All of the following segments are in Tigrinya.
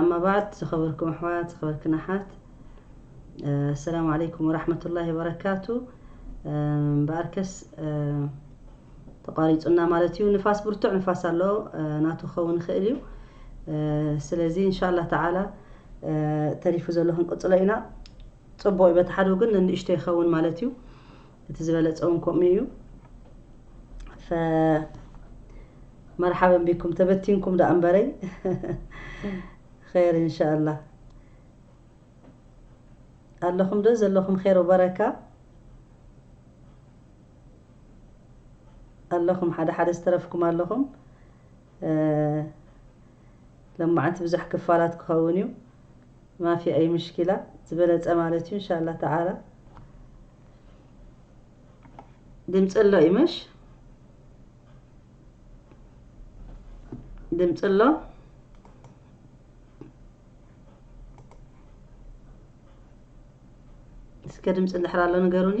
ኣማ ባዕድ ዝኸበርኩም ኣሕዋት ዝኸበርክን ኣሓት ኣሰላሙ ዓለይኩም ወራሕመቱላሂ ወበረካቱ እምበኣርከስ ተቋሪፁና ማለት እዩ ንፋስ ብርቱዕ ንፋስ ኣሎ ናቱ ክኸውን ይኽእል እዩ ስለዚ እንሻላ ተዓላ ተሪፉ ዘሎ ክንቅፅሎ ኢና ፅቡቅ እዩ በቲ ሓደ ወገን ንንእሽቶ ይኸውን ማለት እዩ እቲ ዝበለጸ ውን ከምኡ እዩ ፈ መርሓበን ቢኩም ተበቲንኩም ደኣ እምበረይ ኸይር ኢንሻኣላህ ኣለኹም ዶ ዘለኹም ኸይር ወበረካ ኣለኹም ሓደ ሓደ ዝተረፍኩም ኣለኹም ለማዓንቲ ብዙሕ ክፋላት ክኸውን እዩ ማፊ ኣይ ምሽኪላ ዝበለጸ ማለት እዩ እንሻላ ተዓላ ድምፂ ኣሎ እዩ መሽ ድምፂ ኣሎ እስከ ድምፂ እንድሕር ኣሎ ንገሩኒ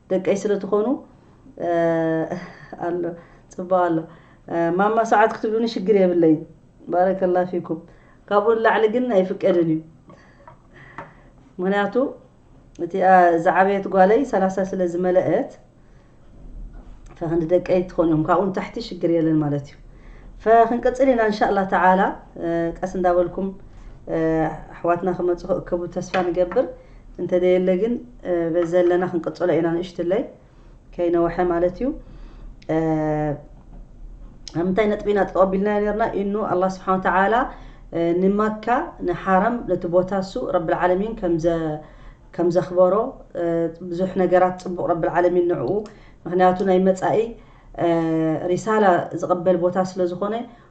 ደቀይ ስለ ትኾኑ ኣሎ ጽቡቅ ኣሎ ማማ ሰዓት ክትብሉኒ ሽግር የብለይን ባረከላ ፊኩም ካብኡ ንላዕሊ ግን ኣይፍቀድን እዩ ምክንያቱ እቲ ዝዓበየት ጓለይ ሰላሳ ስለ ዝመለአት ፈክንዲ ደቀይ ትኾኑ እዮም ካብኡ ንታሕቲ ሽግር የለን ማለት እዩ ፈክንቅጽል ኢና እንሻላ ተዓላ ቀስ እንዳበልኩም ኣሕዋትና ክመጹ ክእከቡ ተስፋ ንገብር እንተዘየለ ግን በዚ ዘለና ክንቅጽሎ ኢና ንእሽትለይ ከይነውሐ ማለት እዩ ኣብ ምንታይ ነጥቢ ኢና ተቐቢልናዮ ነርና ኢኑ ኣላ ስብሓን ተዓላ ንመካ ንሓረም ነቲ ቦታ እሱ ረብልዓለሚን ከም ዘኽበሮ ብዙሕ ነገራት ፅቡቕ ረብልዓለሚን ንዕኡ ምክንያቱ ናይ መፃኢ ሪሳላ ዝቕበል ቦታ ስለ ዝኾነ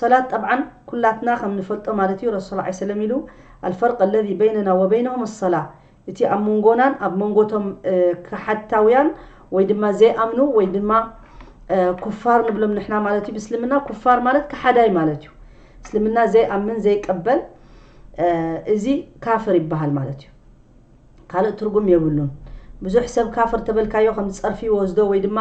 ሰላት ጠብዓን ኩላትና ከም ንፈልጦ ማለት እዩ ረሱል ሰለላሁ ዐለይሂ ወሰለም ኢሉ ኣልፈርቅ ኣለዚ በይነና ወበይነሁም ኣሰላ እቲ ኣብ መንጎናን ኣብ መንጎ እቶም ከሓድታውያን ወይ ድማ ዘይኣምኑ ወይ ድማ ኩፋር ንብሎም ንሕና ማለት እዩ ብእስልምና ኩፋር ማለት ከሓዳይ ማለት እዩ እስልምና ዘይኣምን ዘይቀበል እዚ ካፍር ይበሃል ማለት እዩ ካልእ ትርጉም የብሉን ብዙሕ ሰብ ካፍር ተበልካዮ ከም ጸርፊ ይወስዶ ወይ ድማ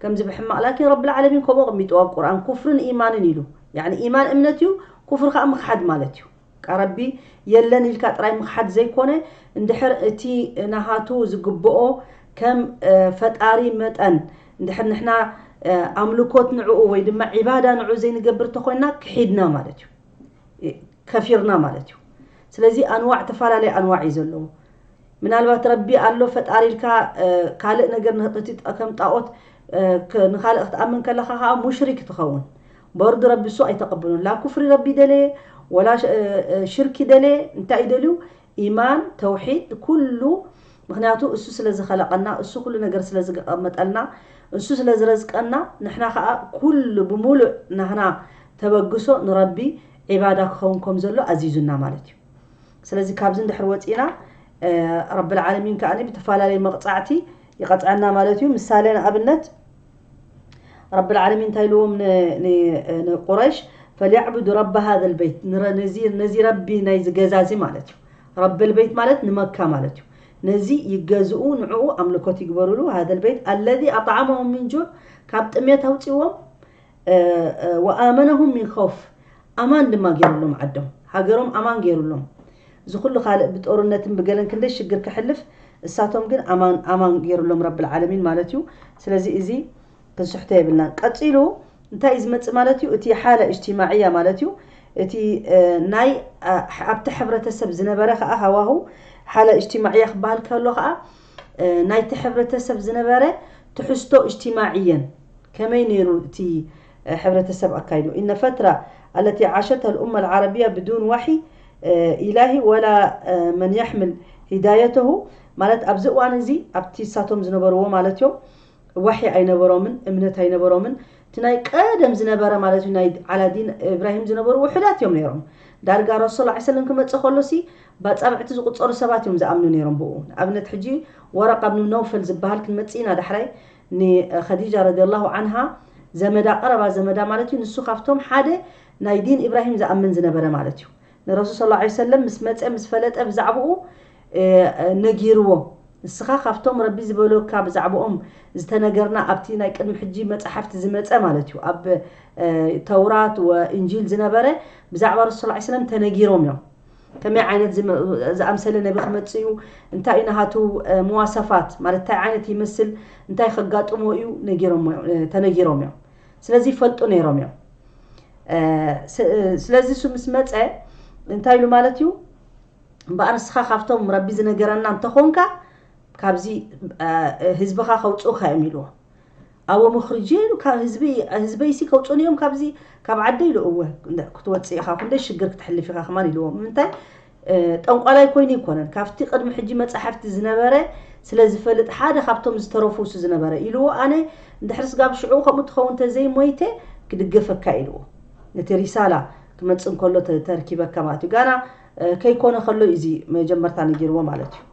ከምዚ ብሕማቅ ላኪን ረቢ ልዓለሚን ከምኡ ኣቅሚጥዎ ኣብ ቁርኣን ኩፍርን ኢማንን ኢሉ ያኒ ኢማን እምነት እዩ ኩፍር ከኣ ምክሓድ ማለት እዩ ቃ ረቢ የለን ኢልካ ጥራይ ምክሓድ ዘይኮነ እንድሕር እቲ ናሃቱ ዝግብኦ ከም ፈጣሪ መጠን እንድሕር ንሕና ኣምልኮት ንዕኡ ወይ ድማ ዒባዳ ንዑ ዘይንገብር ተኮይንና ክሒድና ማለት እዩ። ከፊርና ማለት እዩ ስለዚ ኣንዋዕ ተፈላለየ ኣንዋዕ እዩ ዘለዎ ምናልባት ረቢ ኣሎ ፈጣሪ ኢልካ ካልእ ነገር ንህቅቲ ከም ጣዖት ንካልእ ክትኣምን ከለካ ከዓ ሙሽሪክ ትኸውን በርዱ ረቢ እሱ ኣይተቀብሉን ላ ኩፍሪ ረቢ ደለየ ወላ ሽርኪ ደለየ እንታይ ደልዩ ኢማን ተውሒድ ኩሉ ምክንያቱ እሱ ስለ ዝኸለቀና እሱ ኩሉ ነገር ስለ ዝገቀመጠልና እሱ ስለ ዝረዝቀና ንሕና ከኣ ኩሉ ብሙሉእ ናህና ተበግሶ ንረቢ ዒባዳ ክኸውን ከም ዘሎ ኣዚዙና ማለት እዩ ስለዚ ካብዚ እንድሕር ወጺእና ረቢ ልዓለሚን ከኣ ብትፋላለየ መቅጻዕቲ ይቀጽዐና ማለት እዩ ምሳሌ ንኣብነት ረቢ ልዓለሚን እንታይ ኢልዎም ን ን ንቁረይሽ ፈልያዕቡዱ ረቢ ሃዘ ልበይት ነዚ ነዚ ረቢ ናይዚ ገዛ እዚ ማለት እዩ ረቢ ኣልበይት ማለት ንመካ ማለት እዩ ነዚ ይገዝኡ ንዕኡ ኣምልኮት ይግበርሉ ሃደ ኣልበይት ኣለዚ ኣጣዓመሁም ሚን ጁዕ ካብ ጥምየት ኣውጺዎም ወኣመነሁም ሚን ኸውፍ ኣማን ድማ ጌርሎም ዓዶም ሃገሮም ኣማን ጌርሎም እዚ ኩሉ ካልእ ብጦርነትን ብገለን ክንደይ ሽግር ከሕልፍ እሳቶም ግን ኣማን ኣማን ጌርሎም ረቢ ኣልዓለሚን ማለት እዩ ስለዚ እዚ ክንስሕቶ የብልናን ቀጺሉ እንታይ እዩ ዝመጽእ ማለት እዩ እቲ ሓለ እጅትማዕያ ማለት እዩ እቲ ናይ ኣብቲ ሕብረተሰብ ዝነበረ ከዓ ሃዋህው ሓለ እጅትማዕያ ክበሃል ከሎ ከዓ ናይቲ ሕብረተሰብ ዝነበረ ትሕዝቶ እጅትማዕየን ከመይ ነይሩ እቲ ሕብረተሰብ ኣካይዱ ኢነ ፈትራ ኣለቲ ዓሸተ ልኡመ ልዓረብያ ብዱን ዋሒ ኢላሂ ወላ መን የሕምል ሂዳየተሁ ማለት ኣብዚ እዋን እዚ ኣብቲ ሳቶም ዝነበርዎ ማለት እዮም ዋሒ ኣይነበሮምን እምነት ኣይነበሮምን እቲ ናይ ቀደም ዝነበረ ማለት እዩ ናይ ዓላዲን እብራሂም ዝነበሩ ውሑዳት እዮም ነይሮም ዳርጋ ረሱል ላ ሰለም ክመፅእ ከሎሲ ባፃብዕቲ ዝቁፀሩ ሰባት እዮም ዝኣምኑ ነይሮም ብኡ ንኣብነት ሕጂ ወረቃ ብን ነውፈል ዝበሃል ክንመፅእ ኢና ዳሕራይ ንኸዲጃ ረዲላሁ ዓንሃ ዘመዳ ቀረባ ዘመዳ ማለት እዩ ንሱ ካብቶም ሓደ ናይ ዲን እብራሂም ዝኣምን ዝነበረ ማለት እዩ ንረሱል ስ ሰለም ምስ መፀ ምስ ፈለጠ ብዛዕብኡ ነጊርዎ ንስኻ ካብቶም ረቢ ዝበሎካ ብዛዕብኦም ዝተነገርና ኣብቲ ናይ ቅድሚ ሕጂ መጻሕፍቲ ዝመጸ ማለት እዩ ኣብ ተውራት ወእንጂል ዝነበረ ብዛዕባ ረሱል ሰለላሁ ዐለይሂ ወሰለም ተነጊሮም እዮም ከመይ ዓይነት ዝኣምሰለ ነቢ ክመጽእ እዩ እንታይ እዩ ናሃቱ መዋሰፋት ማለት እንታይ ዓይነት ይመስል እንታይ ከጋጥሞ እዩ ተነጊሮም እዮም ስለዚ ይፈልጡ ነይሮም እዮም ስለዚ እሱ ምስ መጸ እንታይ ኢሉ ማለት እዩ እምበኣር ንስኻ ካብቶም ረቢ ዝነገረና እንተኾንካ ካብዚ ህዝብኻ ከውፅኡካ እዮም ኢልዎ ኣቦ ምኽሪ ጀይሩ ካብ ህዝቢ ህዝበይሲ ከውፅኡኒ እዮም ካብዚ ካብ ዓደይ ኢሉ እወ ክትወፅእ ኢኻ ክንደይ ሽግር ክትሕልፍ ኢኻ ከማን ኢልዎ ምንታይ ጠንቋላይ ኮይኑ ይኮነን ካብቲ ቅድሚ ሕጂ መጻሕፍቲ ዝነበረ ስለ ዝፈልጥ ሓደ ካብቶም ዝተረፉ እሱ ዝነበረ ኢልዎ ኣነ እንድሕር ስጋብ ሽዑ ከምኡ ትኸውን ተዘይ ሞይተ ክድገፈካ ኢልዎ ነቲ ሪሳላ ክመጽእ እንከሎ ተርኪበካ ማለት እዩ ጋና ከይኮነ ከሎ እዩ እዚ መጀመርታ ነጊርዎ ማለት እዩ።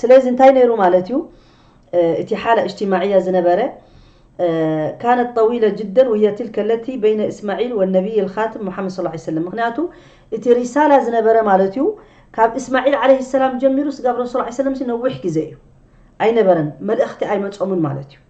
ስለዚ እንታይ ነይሩ ማለት እዩ እቲ ሓላ እጅትማዕያ ዝነበረ ካነት ጠዊለ ጅደን ወህየ ትልከ ለቲ በይነ እስማዒል ወነቢይ ልካትም ሙሓመድ ስ ላ ሰለም ምክንያቱ እቲ ሪሳላ ዝነበረ ማለት እዩ ካብ እስማዒል ዓለይሂ ሰላም ጀሚሩ ስጋብ ረሱል ዓ ሰለም ነዊሕ ግዜ እዩ ኣይነበረን መልእኽቲ ኣይመጾምን ማለት እዩ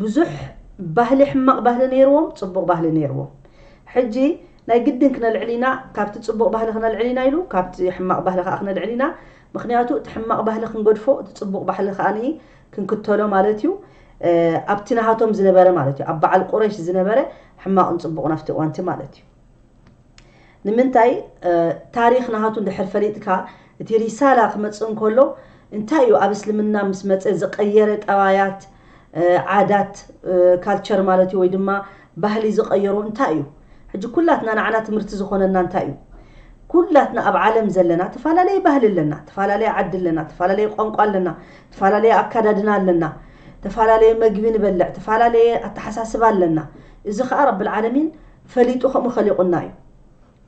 ብዙሕ ባህሊ ሕማቅ ባህሊ ነይርዎም ጽቡቅ ባህሊ ነይርዎም ሕጂ ናይ ግድን ክነልዕል ኢና ካብቲ ጽቡቅ ባህሊ ክነልዕል ኢና ኢሉ ካብቲ ሕማቅ ባህሊ ከኣ ክነልዕል ኢና ምክንያቱ እቲ ሕማቅ ባህሊ ክንገድፎ እቲ ጽቡቅ ባሕሊ ከኣ ክንክተሎ ማለት እዩ ኣብቲ ናሃቶም ዝነበረ ማለት እዩ ኣብ በዓል ቁረሽ ዝነበረ ሕማቅን ጽቡቅን ኣብቲ እዋንቲ ማለት እዩ ንምንታይ ታሪኽ ናሃቱ እንድሕር ፈሊጥካ እቲ ሪሳላ ክመጽእ እንከሎ እንታይ እዩ ኣብ እስልምና ምስ መጸ ዝቀየረ ጠባያት ዓዳት ካልቸር ማለት እዩ ወይ ድማ ባህሊ ዝቀየሮ እንታይ እዩ ሕጂ ኩላትና ንዓና ትምህርቲ ዝኾነና እንታይ እዩ ኩላትና ኣብ ዓለም ዘለና ተፈላለየ ባህሊ ኣለና ተፈላለየ ዓዲ ኣለና ተፈላለየ ቋንቋ ኣለና ተፈላለየ ኣካዳድና ኣለና ተፈላለየ መግቢ ንበልዕ ተፈላለየ ኣተሓሳስባ ኣለና እዚ ከዓ ረብልዓለሚን ፈሊጡ ከምኡ ከሊቁና እዩ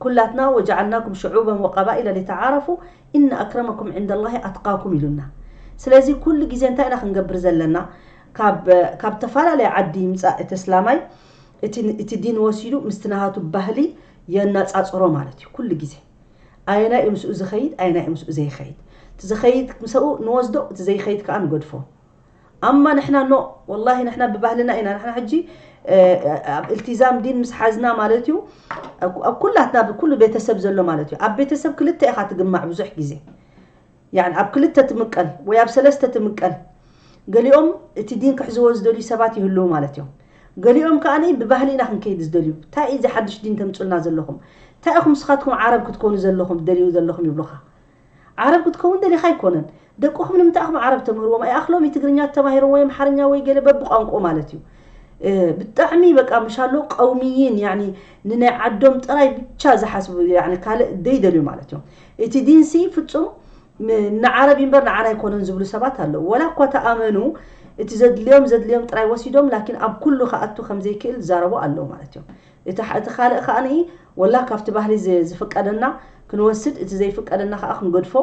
ኩላትና ወጃዓልናኩም ሸዑበን ወቀባኢለ ሊተዓረፉ ኢነ ኣክረመኩም ዒንደላሂ ኣትቃኩም ኢሉና ስለዚ ኩሉ ግዜ እንታይ ኢና ክንገብር ዘለና ካብ ካብ ተፋላለየ ዓዲ ይምጻእ እቲ እስላማይ እቲ እቲ ዲን ወሲዱ ምስቲ ናሃቱ ባህሊ የናጻጽሮ ማለት እዩ ኩሉ ግዜ ኣየናይ እዩ ምስኡ ዝኸይድ ኣየናይ እዩ ምስኡ ዘይኸይድ እቲ ዝኸይድ ምሰኡ ንወስዶ እቲ ዘይኸይድ ከኣ ንገድፎ ኣማ ንሕና ኖእ ወላሂ ንሕና ብባህልና ኢና ንሕና ሕጂ ኣብ ኢልቲዛም ዲን ምስ ሓዝና ማለት እዩ ኣብ ኩላትና ብኩሉ ቤተሰብ ዘሎ ማለት እዩ ኣብ ቤተሰብ ክልተ ኢኻ ትግማዕ ብዙሕ ግዜ يعني ኣብ ክልተ ትምቀል ወይ ኣብ ሰለስተ ትምቀል ገሊኦም እቲ ዲን ክሕዝዎ ዝደልዩ ሰባት ይህልው ማለት እዮም ገሊኦም ከዓ ብባህሊ ኢና ክንከይድ ዝደልዩ እንታይ እዚ ሓድሽ ዲን ተምፁልና ዘለኹም እንታይ ኢኹም ስኻትኩም ዓረብ ክትኮኑ ዘለኹም ትደልዩ ዘለኹም ይብሉኻ ዓረብ ክትከውን ደሊኻ ኣይኮነን ደቁኹም ንምንታይ ኣኹም ዓረብ ተምህርዎም ኣይኣኽሎምይ ትግርኛ ተማሂሮም ወይ ኣምሓርኛ ወይ ገለ በብቋንቁኡ ማለት እዩ ብጣዕሚ በቃ ምሻሎ ቀውምይን ያኒ ንናይ ዓዶም ጥራይ ብቻ ዝሓስቡ ያኒ ካልእ ደይደልዩ ማለት እዮም እቲ ዲንሲ ፍጹም ንዓረብ ይንበር ንዓና ኣይኮነን ዝብሉ ሰባት ኣለዉ ወላ እኳ ተኣመኑ እቲ ዘድልዮም ዘድልዮም ጥራይ ወሲዶም ላኪን ኣብ ኩሉ ክኣቱ ከምዘይክእል ዝዛረቡ ኣለዉ ማለት እዮም እቲ እቲ ካልእ ከኣ ወላ ካብቲ ባህሊ ዝፍቀደና ክንወስድ እቲ ዘይፍቀደና ከኣ ክንገድፎ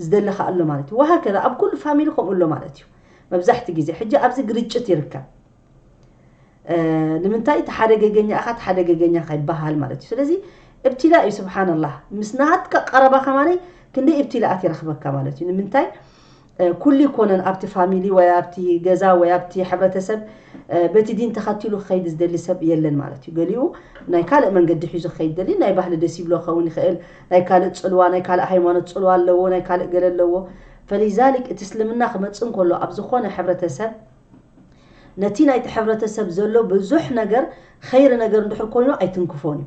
ዝደሊ ከኣ ኣሎ ማለት እዩ ወሃከዛ ኣብ ኩሉ ፋሚሊ ከምኡ ኣሎ ማለት እዩ መብዛሕቲ ግዜ ሕጂ ኣብዚ ግርጭት ይርከብ ንምንታይ እቲ ሓደ ገገኛ ኢኻ እቲ ሓደ ገገኛ ኢኻ ይበሃል ማለት እዩ ስለዚ እብትላ እዩ ስብሓንላህ ምስ ናትካ ቀረባ ከማነይ ክንደይ እብትላኣት ይረኽበካ ማለት እዩ ንምንታይ ኩሉ ኣይኮነን ኣብቲ ፋሚሊ ወይ ኣብቲ ገዛ ወይ ኣብቲ ሕብረተሰብ በቲ ዲን ተኸቲሉ ክኸይድ ዝደሊ ሰብ የለን ማለት እዩ። ገሊኡ ናይ ካልእ መንገዲ ሒዙ ክኸይድ ይደሊ፣ ናይ ባህሊ ደስ ይብሎ ክኸውን ይኽእል፣ ናይ ካልእ ጽልዋ፣ ናይ ካልእ ሃይማኖት ጽልዋ ኣለዎ፣ ናይ ካልእ ገለ ኣለዎ። ፈሊዛሊክ እቲ እስልምና ክመጽእ እንከሎ ኣብ ዝኾነ ሕብረተሰብ ነቲ ናይቲ ሕብረተሰብ ዘሎ ብዙሕ ነገር ኸይሪ ነገር እንድሕር ኮይኑ ኣይትንክፎን እዩ።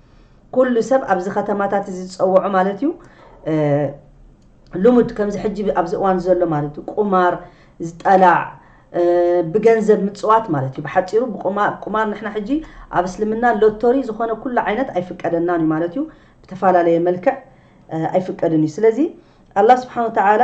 ኩሉ ሰብ ኣብዚ ከተማታት እዚ ዝጸወዖ ማለት እዩ ልሙድ ከምዚ ሕጂ ኣብዚ እዋን ዘሎ ማለት እዩ ቁማር ዝጠላዕ ብገንዘብ ምፅዋት ማለት እዩ ብሓፂሩ ቁማር ንሕና ሕጂ ኣብ እስልምና ሎቶሪ ዝኾነ ኩሉ ዓይነት ኣይፍቀደናን እዩ ማለት እዩ ብተፈላለየ መልክዕ ኣይፍቀድን እዩ ስለዚ ኣላ ስብሓን ወተዓላ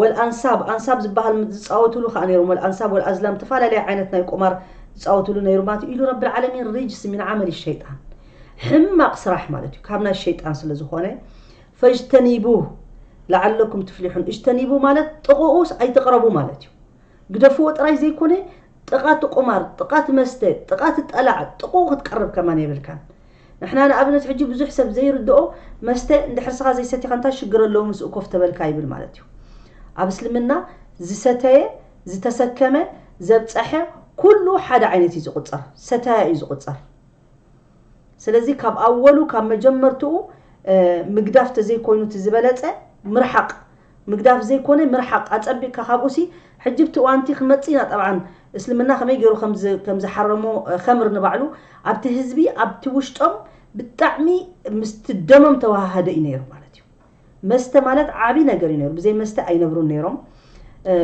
ወል ኣንሳብ ኣንሳብ ዝባሃል ምት ዝጻወትሉ ከኣ ነይሮም ወል ኣንሳብ ወል ኣዝላም ተፋላለየ ዓይነት ናይ ቁማር ዝጻወትሉ ነይሩ ማለት እዩ ኢሉ ረቢ ልዓለሚን ሪጅስ ሚን ዓመሊ ሸይጣን ሕማቅ ስራሕ ማለት እዩ ካብ ናይ ሸይጣን ስለ ዝኾነ ፈጅተኒቡህ ለዓለኩም ትፍሊሑን እጅተኒቡ ማለት ጥቕኡስ ኣይትቕረቡ ማለት እዩ ግደፍዎ ጥራይ ዘይኮነ ጥቓ እቲ ቁማር ጥቓ እቲ መስተ ጥቓ እቲ ጠላዕ ጥቕኡ ክትቀርብ ከማን የብልካን ንሕና ንኣብነት ሕጂ ብዙሕ ሰብ ዘይርድኦ መስተ ንድሕርስኻ ዘይሰቲኻ እንታይ ሽግር ኣለዎ ምስኡ ኮፍ ተበልካ ይብል ማለት እዩ ኣብ እስልምና ዝሰተየ ዝተሰከመ ዘብጸሐ ኩሉ ሓደ ዓይነት እዩ ዝቁጸር ሰታያ እዩ ዝቁጸር ስለዚ ካብ ኣወሉ ካብ መጀመርትኡ ምግዳፍ ተዘይኮይኑ እቲ ዝበለጸ ምርሓቅ ምግዳፍ ዘይኮነ ምርሓቅ ኣጸቢቅካ ካብኡሲ ሕጂ ብቲ እዋንቲ ክመጽእ ኢና ጠብዓን እስልምና ከመይ ጌሩ ከም ዝሓረሞ ከምር ንባዕሉ ኣብቲ ህዝቢ ኣብቲ ውሽጦም ብጣዕሚ ምስቲ ደሞም ተዋሃሃደ እዩ ኔሩ ማለት እዩ መስተ ማለት ዓቢ ነገር እዩ ኔሩ ብዘይ መስተ ኣይነብሩን ኔሮም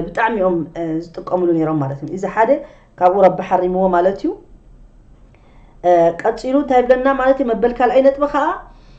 ብጣዕሚ እዮም ዝጥቀምሉ ኔሮም ማለት እዩ እዚ ሓደ ካብኡ ረቢ ሓሪምዎ ማለት እዩ ቀጺሉ እንታይ ብለና ማለት እዩ መበል ካልኣይ ነጥቢ ከኣ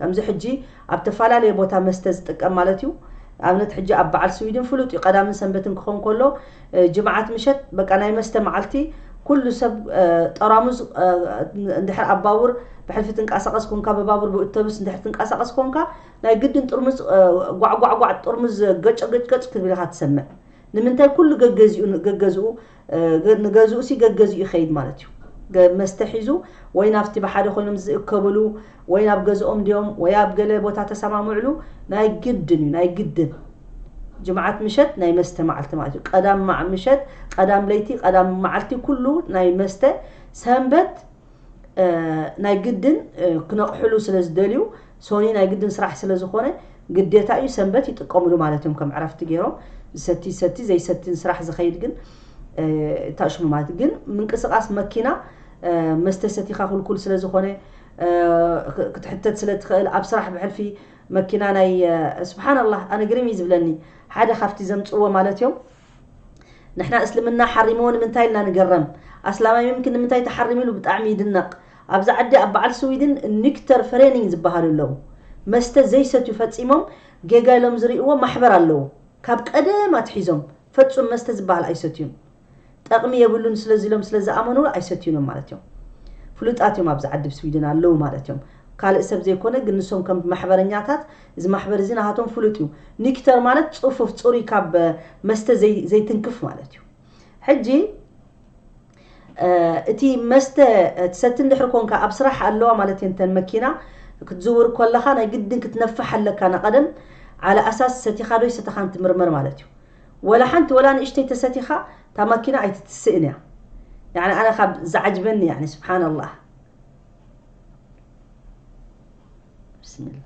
ከምዚ ሕጂ ኣብ ተፋላለየ ቦታ መስተ ዝጥቀም ማለት እዩ ኣብነት ሕጂ ኣብ በዓል ስዊድን ፍሉጥ እዩ ቀዳምን ሰንበትን ክኸውን ከሎ ጅምዓት ምሸት በቃ ናይ መስተ መዓልቲ ኩሉ ሰብ ጠራሙዝ እንድሕር ኣብ ባቡር ብሕልፊ ትንቀሳቐስ ኮንካ ብባቡር ብእተብስ እንድሕር ትንቀሳቐስ ኮንካ ናይ ግድን ጥርሙዝ ጓዕጓዕጓዕ ጥርሙዝ ገጭ ገጭ ገጭ ክትብል ኢኻ ትሰምዕ ንምንታይ ኩሉ ገገዚኡ ገገዝኡ ንገዝኡሲ ገገዝኡ ይኸይድ ማለት እዩ። መስተ ሒዙ ወይ ናብቲ ብሓደ ኮይኖም ዝእከብሉ ወይ ናብ ገዝኦም ድዮም ወይ ኣብ ገለ ቦታ ተሰማምዕሉ ናይ ግድን እዩ ናይ ግድን። ጅምዓት ምሸት ናይ መስተ መዓልቲ ማለት እዩ። ቀዳም ምሸት፣ ቀዳም ለይቲ፣ ቀዳም መዓልቲ ኩሉ ናይ መስተ ሰንበት ናይ ግድን ክነቕሕሉ ስለ ዝደልዩ ሶኒ ናይ ግድን ስራሕ ስለ ዝኾነ ግዴታ እዩ ሰንበት ይጥቀምሉ ማለት እዮም ከም ዕረፍቲ ገይሮም ዝሰቲ ይሰቲ ዘይሰቲን ስራሕ ዝኸይድ ግን እታ ሽሙ ማለት ግን ምንቅስቓስ መኪና መስተ ሰቲኻ ኩልኩል ስለ ዝኾነ ክትሕተት ስለ ትኽእል ኣብ ስራሕ ብሕልፊ መኪና ናይ ስብሓን ኣላህ ኣነ ግርም እዩ ዝብለኒ ሓደ ካብቲ ዘምፅዎ ማለት እዮም ንሕና እስልምና ሓሪምዎ ንምንታይ ኢልና ንግረም ኣስላማይ ምምኪ ንምንታይ ተሓሪሙ ኢሉ ብጣዕሚ ይድነቅ ኣብዚ ዓዲ ኣብ በዓል ስዊድን ኒክተር ፈሬኒንግ ዝበሃሉ ኣለዉ መስተ ዘይሰትዩ ፈጺሞም ጌጋ ኢሎም ዝሪእዎ ማሕበር ኣለዉ ካብ ቀደም ኣትሒዞም ፈጹም መስተ ዝበሃል ኣይሰትዩን ጠቅሚ የብሉን ስለዚ ኢሎም ስለ ዝኣመንሉ ኣይሰትዩን እዮም ማለት እዮም ፍሉጣት እዮም ኣብዚ ዓዲ ስዊድን ኣለዉ ማለት እዮም ካልእ ሰብ ዘይኮነ ግን ንሶም ከም ማሕበረኛታት እዚ ማሕበር እዚ ናሃቶም ፍሉጥ እዩ ኒክተር ማለት ጹፉፍ ጹሩይ ካብ መስተ ዘይ ዘይትንክፍ ማለት እዩ ሕጂ እቲ መስተ ትሰቲ እንድሕር ኮንካ ኣብ ስራሕ ኣለዋ ማለት እየን ተን መኪና ክትዝውር ኮለኻ ናይ ግድን ክትነፍሕ ኣለካ ናቀደም ዓለ ኣሳስ ሰቲኻ ዶ ኣይሰተኻን ትምርመር ማለት እዩ ወላ ሓንቲ ወላ ንእሽተይ ተሰቲኻ እታ ማኪና ኣይትትስእን እያ ያኒ ኣነ ካብ ዝዓጅበኒ ያኒ ስብሓን ኣላህ ብስሚላ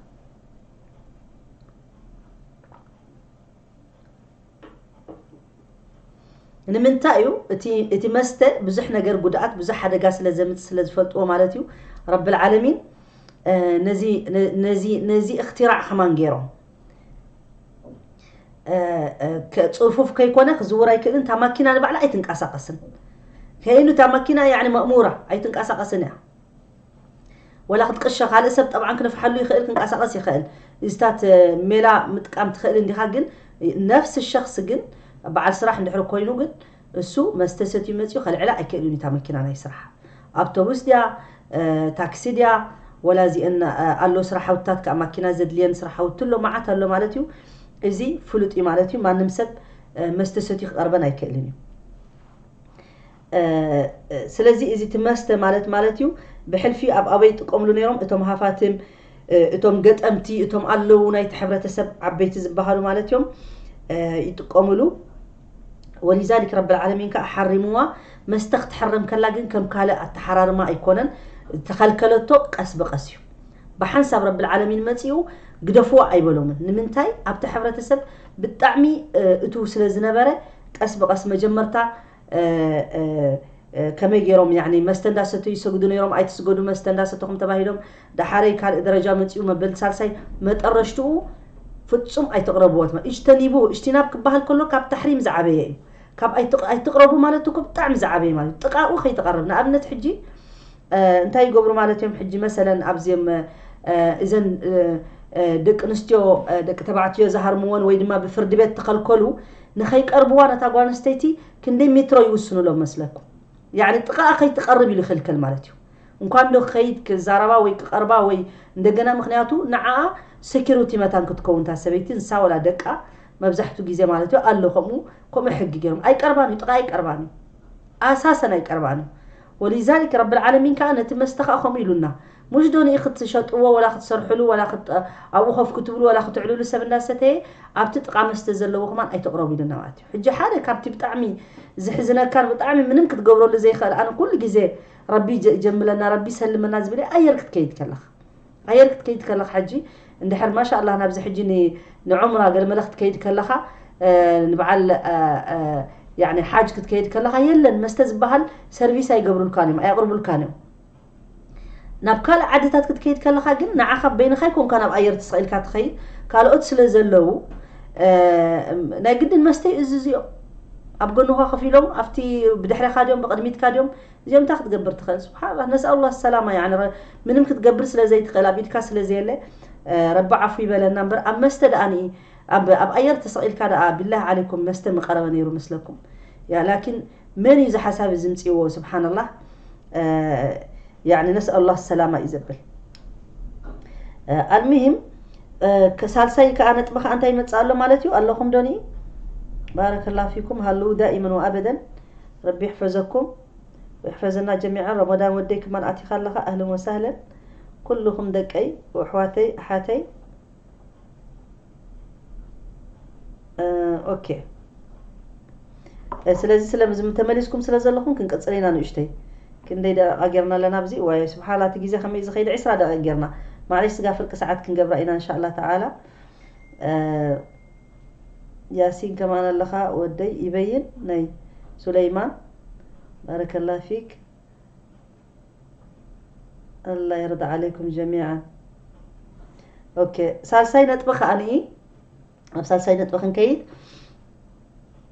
ንምንታይ እዩ እቲ እቲ መስተ ብዙሕ ነገር ጉድኣት ብዙሕ ሓደጋ ስለ ዘምፅ ስለ ዝፈልጥዎ ማለት እዩ ረቢ ልዓለሚን ነዚ ነዚ ነዚ እክትራዕ ከማን ገይሮም ፅፉፍ ከይኮነ ክዝውር ኣይክእልን እታ ማኪና ንባዕላ ኣይትንቀሳቐስን ከይኑ እታ ማኪና ያዕኒ መእሙራ ኣይትንቀሳቐስን እያ ወላ ክትቅሸ ካልእ ሰብ ጠብዓን ክንፍሓሉ ይኽእል ክንቀሳቐስ ይኽእል እዚታት ሜላ ምጥቃም ትኽእል እንዲኻ ግን ነፍሲ ሸክስ ግን በዓል ስራሕ እንድሕር ኮይኑ ግን እሱ መስተ ሰትዩ መጺኡ ከልዕላ ኣይክእልን እዩ እታ መኪና ናይ ስራሕ ኣብቶቡስ ድያ ታክሲ ድያ ወላ እዚኤን ኣሎ ስራሓውትታት ከኣ ማኪና ዘድልየን ስራሓውቲ ኣሎ መዓት ኣሎ ማለት እዩ እዚ ፍሉጥ እዩ ማለት እዩ ማንም ሰብ መስተ ሰትዩ ክቐርበን ኣይክእልን እዩ ስለዚ እዚ እቲ መስተ ማለት ማለት እዩ ብሕልፊ ኣብ ኣበይ ይጥቀምሉ ነይሮም እቶም ሃፋትም እቶም ገጠምቲ እቶም ኣለዉ ናይቲ ሕብረተሰብ ዓበይቲ ዝበሃሉ ማለት እዮም ይጥቀምሉ ወሊዛሊክ ረብልዓለሚን ከዓ ሓሪምዋ መስተ ክትሕረም ከላ ግን ከም ካልእ ኣተሓራርማ ኣይኮነን ዝተኸልከለቶ ቀስ ብቐስ እዩ ብሓንሳብ ረብልዓለሚን መፂኡ ግደፍዋ ኣይበሎምን ንምንታይ ኣብቲ ሕብረተሰብ ብጣዕሚ እትው ስለ ዝነበረ ቀስ ብቐስ መጀመርታ ከመይ ጌሮም ያኒ መስተ እንዳ ሰተዩ ይሰግዱ ነይሮም ኣይትስገዱ መስተ እንዳ ሰተኹም ተባሂሎም ዳሓረይ ካልእ ደረጃ መጺኡ መበል ሳልሳይ መጠረሽትኡ ፍጹም ኣይትቕረብዎ ትማ እጅተኒቡ እጅቲናብ ክበሃል ከሎ ካብ ታሕሪም ዝዓበየ እዩ ካብ ኣይትቕረቡ ማለት እኮ ብጣዕሚ ዝዓበየ ማለት ጥቃኡ ከይትቐርብ ንኣብነት ሕጂ እንታይ ይገብሩ ማለት እዮም ሕጂ መሰለን ኣብዚም እዘን ደቂ ኣንስትዮ ደቂ ተባዕትዮ ዝሃርምዎን ወይ ድማ ብፍርዲ ቤት ተኸልከሉ ንኸይቀርብዋ ነታ ጓል ኣንስተይቲ ክንደይ ሜትሮ ይውስኑሎም መስለኩም ያዕኒ ጥቓኣ ከይትቐርብ ኢሉ ይኽልከል ማለት እዩ እንኳን ዶ ከይድ ክዛረባ ወይ ክቐርባ ወይ እንደገና ምክንያቱ ንዓኣ ሴኪሪቲ መታን ክትከውን እታ ሰበይቲ ንሳ ወላ ደቃ መብዛሕትኡ ግዜ ማለት እዩ ኣሎ ከምኡ ከምኡ ሕጊ ገይሮም ኣይቀርባን እዩ ጥቓ ኣይቀርባን እዩ ኣሳሰን ኣይቀርባን እዩ ወሊዛሊክ ረቢ ልዓለሚን ከኣ ነቲ መስተ ከኣ ከምኡ ኢሉና ሙሽ ዶ ንኢ ክትሸጥዎ ወላ ክትሰርሕሉ ወላ ክት ኣብኡ ኮፍ ክትብሉ ወላ ክትዕልሉ ሰብ እንዳ ሰተየ ኣብቲ ጥቃ መስተ ዘለዎ ከማን ኣይትቅረቡ ኢሉና ማለት እዩ ሕጂ ሓደ ካብቲ ብጣዕሚ ዝሕዝነካን ብጣዕሚ ምንም ክትገብረሉ ዘይክእል ኣነ ኩሉ ግዜ ረቢ ይጀ ይጀምለና ረቢ ይሰልመና ዝብል ኣየር ክትከይድ ከለካ ኣየር ክትከይድ ከለኻ ሕጂ እንድሕር ማሻላህ ናብዚ ሕጂ ንዑምራ ገለመለ ክትከይድ ከለኻ ንበዓል ያኒ ሓጅ ክትከይድ ከለኻ የለን መስተ ዝበሃል ሰርቪስ ኣይገብሩልካን እዮም ኣየቕርቡልካን እዮም ናብ ካልእ ዓድታት ክትከይድ ከለኻ ግን ንዓኻ በይንኻ ይኮንካ ናብ ኣየር ተሰቒልካ ትኸይድ ካልኦት ስለ ዘለዉ ናይ ግድን መስተ እዩ እዚ እዚኦ ኣብ ጎንኻ ከፍ ኢሎም ኣብቲ ብድሕሬኻ ድዮም ብቕድሚትካ ድዮም እዚኦም እንታይ ክትገብር ትኽእል ስብሓንላ ነስኣሉላ ሰላማ ያኒ ምንም ክትገብር ስለ ዘይትኽእል ኣብ ኢድካ ስለ ዘየለ ረቢ ዓፉ ይበለና እምበር ኣብ መስተ ደኣኒ ኣብ ኣብ ኣየር ተሰቒልካ ደኣ ቢላህ ዓለይኩም መስተ ምቀረበ ነይሩ መስለኩም ያ ላኪን መን እዩ ዝሓሳብ እዚ ምፅእዎ ስብሓንላ ያኒ ነስኣሉላ ሰላማ እዩ ዘብል ኣልሙሂም ሳልሳይ ከዓ ነጥቢ ከዓ እንታይ ይመፅእ ኣሎ ማለት እዩ ኣለኹም ዶኒ ባረከላ ፊኩም ሃለዉ ዳኢመን ወኣበደን ረቢ ይሕፈዘኩም ወይሕፈዘና ጀሚዓ ሮሞዳን ወደይ ክማን ኣቲካ ኣለካ ኣህለን ወሳህለን ኩሉኩም ደቀይ ወኣሕዋተይ ኣሓተይ ኦኬ ስለዚ ስለዚ ተመሊስኩም ስለ ዘለኹም ክንቅፅል ኢና ንእሽተይ ክንደይ ደቂቃ ጌርና ኣለና ኣብዚ ዋይ ስብሓላ እቲ ግዜ ከመይ ዝኸይድ ዕስራ ደቂቅ ጌርና ማዕለሽ ስጋ ፍርቂ ሰዓት ክንገብራ ኢና እንሻላ ተዓላ ያሲን ከማን ኣለኻ ወደይ ይበይን ናይ ሱለይማን ባረከላ ፊክ ኣላ የርዳ ዓለይኩም ጀሚዓን ኦኬ ሳልሳይ ነጥቢ ከኣ ኣብ ሳልሳይ ነጥቢ ክንከይድ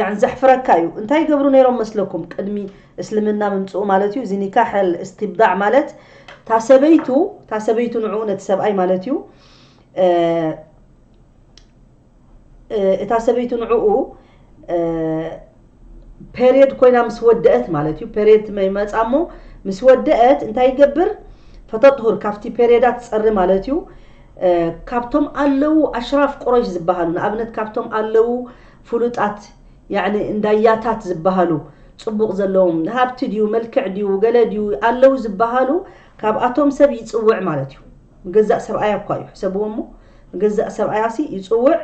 ያኒ ዘሕፍረካ እዩ እንታይ ይገብሩ ነይሮም መስለኩም ቅድሚ እስልምና ምምፅኡ ማለት እዩ እዚ ኒካሕ እስትብዳዕ ማለት ታሰበይቱ ታሰበይቱ ንዕኡ ነቲ ሰብኣይ ማለት እዩ እታ ሰበይቱ ንዕኡ ፔርየድ ኮይና ምስ ወደአት ማለት እዩ ፔርየድ ትመ ይመፃ እሞ ምስ ወደአት እንታይ ይገብር ፈተጥሁር ካብቲ ፔርየዳት ፀሪ ማለት እዩ ካብቶም ኣለዉ ኣሽራፍ ቁረይሽ ዝበሃሉ ንኣብነት ካብቶም ኣለዉ ፍሉጣት ያዕኒ እንዳያታት ዝበሃሉ ፅቡቕ ዘለዎም ሃብቲ ድዩ መልክዕ ድዩ ገለ ድዩ ኣለዉ ዝበሃሉ ካብኣቶም ሰብ ይፅውዕ ማለት እዩ ንገዛእ ሰብኣያ እኳ እዩ ሕሰብዎ እሞ ንገዛእ ሰብኣያሲ ይፅውዕ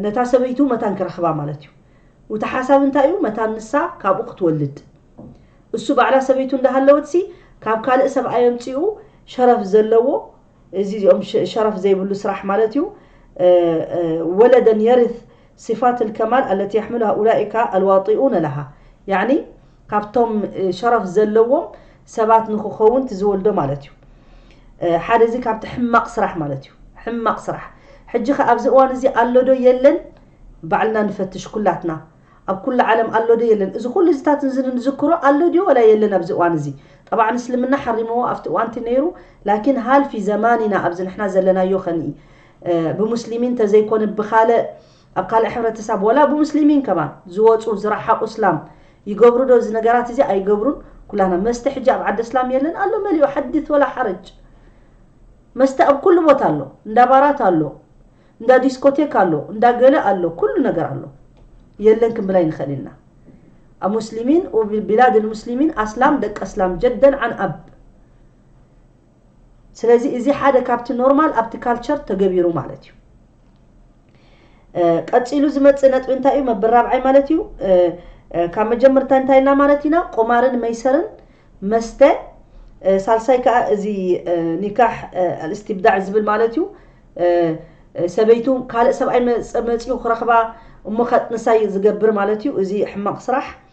ነታ ሰበይቱ መታን ክረኽባ ማለት እዩ። እቲ ሓሳብ እንታይ እዩ? መታን ንሳ ካብኡ ክትወልድ። እሱ ባዕላ ሰበይቱ እንዳሃለወትሲ ካብ ካልእ ሰብኣይ ኣምጺኡ ሸረፍ ዘለዎ እዚ እዚኦም ሸረፍ ዘይብሉ ስራሕ ማለት እዩ ወለደን የርት ሲፋት ልከማል ኣለቲ የሕምሉ ሃኡላኢካ ኣልዋጢኡነ ለሃ ያዕኒ ካብቶም ሸረፍ ዘለዎም ሰባት ንክኸውን ትዝወልዶ ማለት እዩ ሓደ እዚ ካብቲ ሕማቕ ስራሕ ማለት እዩ ሕማቕ ስራሕ ሕጂ ከ ኣብዚ እዋን እዚ ኣሎ ዶ የለን ባዕልና ንፈትሽ ኩላትና ኣብ ኩሉ ዓለም ኣሎ ዶ የለን እዚ ኩሉ እዚታት እዚ ንዝክሮ ኣሎ ድዩ ወላ የለን ኣብዚ እዋን እዚ ጠብዓ እስልምና ሓሪምዎ ኣብቲ እዋንቲ ነይሩ ላኪን ሃልፊ ዘማኒና ኣብዚ ንሕና ዘለናዮ ከንኢ ብሙስሊሚን ተዘይኮነ ብካልእ ኣብ ካልእ ሕብረተሳብ ወላ ብሙስሊሚን ከማን ዝወጹ ዝራሓቁ እስላም ይገብሩ ዶ እዚ ነገራት እዚ ኣይገብሩን ኩላና መስተ ሕጂ ኣብ ዓዲ እስላም የለን ኣሎ መሊኡ ሓዲት ወላ ሓረጅ መስተ ኣብ ኩሉ ቦታ ኣሎ እንዳ ባራት ኣሎ እንዳ ዲስኮቴክ ኣሎ እንዳ ገለ ኣሎ ኩሉ ነገር ኣሎ የለን ክንብል ኣይንኽእል ኢና ኣብ ሙስሊሚን ቢላድ ልሙስሊሚን ኣስላም ደቂ ኣስላም ጀደን ዓን ኣብ ስለዚ እዚ ሓደ ካብቲ ኖርማል ኣብቲ ካልቸር ተገቢሩ ማለት እዩ ቀፂሉ ዝመፅእ ነጥቢ እንታይ እዩ መብል ራብዓይ ማለት እዩ ካብ መጀመርታ እንታይ ኢልና ማለት ኢና ቁማርን መይሰርን መስተ ሳልሳይ ከዓ እዚ ኒካሕ ኣልእስትብዳዕ ዝብል ማለት እዩ ሰበይቱ ካልእ ሰብኣይ መፅኡ ክረኽባ እሞ ከጥንሳይ ዝገብር ማለት እዩ እዚ ሕማቕ ስራሕ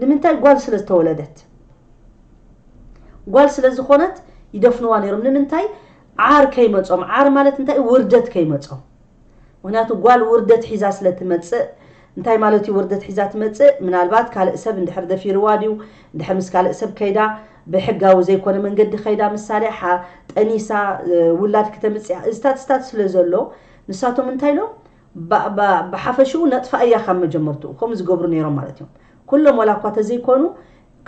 ንምንታይ ጓል ስለ ዝተወለደት ጓል ስለ ዝኾነት ይደፍንዋ ነይሮም ንምንታይ ዓር ከይመጾም ዓር ማለት እንታይ እዩ ውርደት ከይመጾም ምክንያቱ ጓል ውርደት ሒዛ ስለ ትመጽእ እንታይ ማለት እዩ ውርደት ሒዛ ትመጽእ ምናልባት ካልእ ሰብ እንድሕር ደፊርዋ ድዩ እንድሕር ምስ ካልእ ሰብ ከይዳ ብሕጋዊ ዘይኮነ መንገዲ ከይዳ ምሳሌ ጠኒሳ ውላድ ክተምጽያ እዝታት ስታት ስለ ዘሎ ንሳቶም እንታይ ኢሎም ባእባእ ብሓፈሽኡ ነጥፍኣያ ካብ መጀመርትኡ ከምኡ ዝገብሩ ነይሮም ማለት እዮም ኩሎም ዋላ እኳ ተዘይኮኑ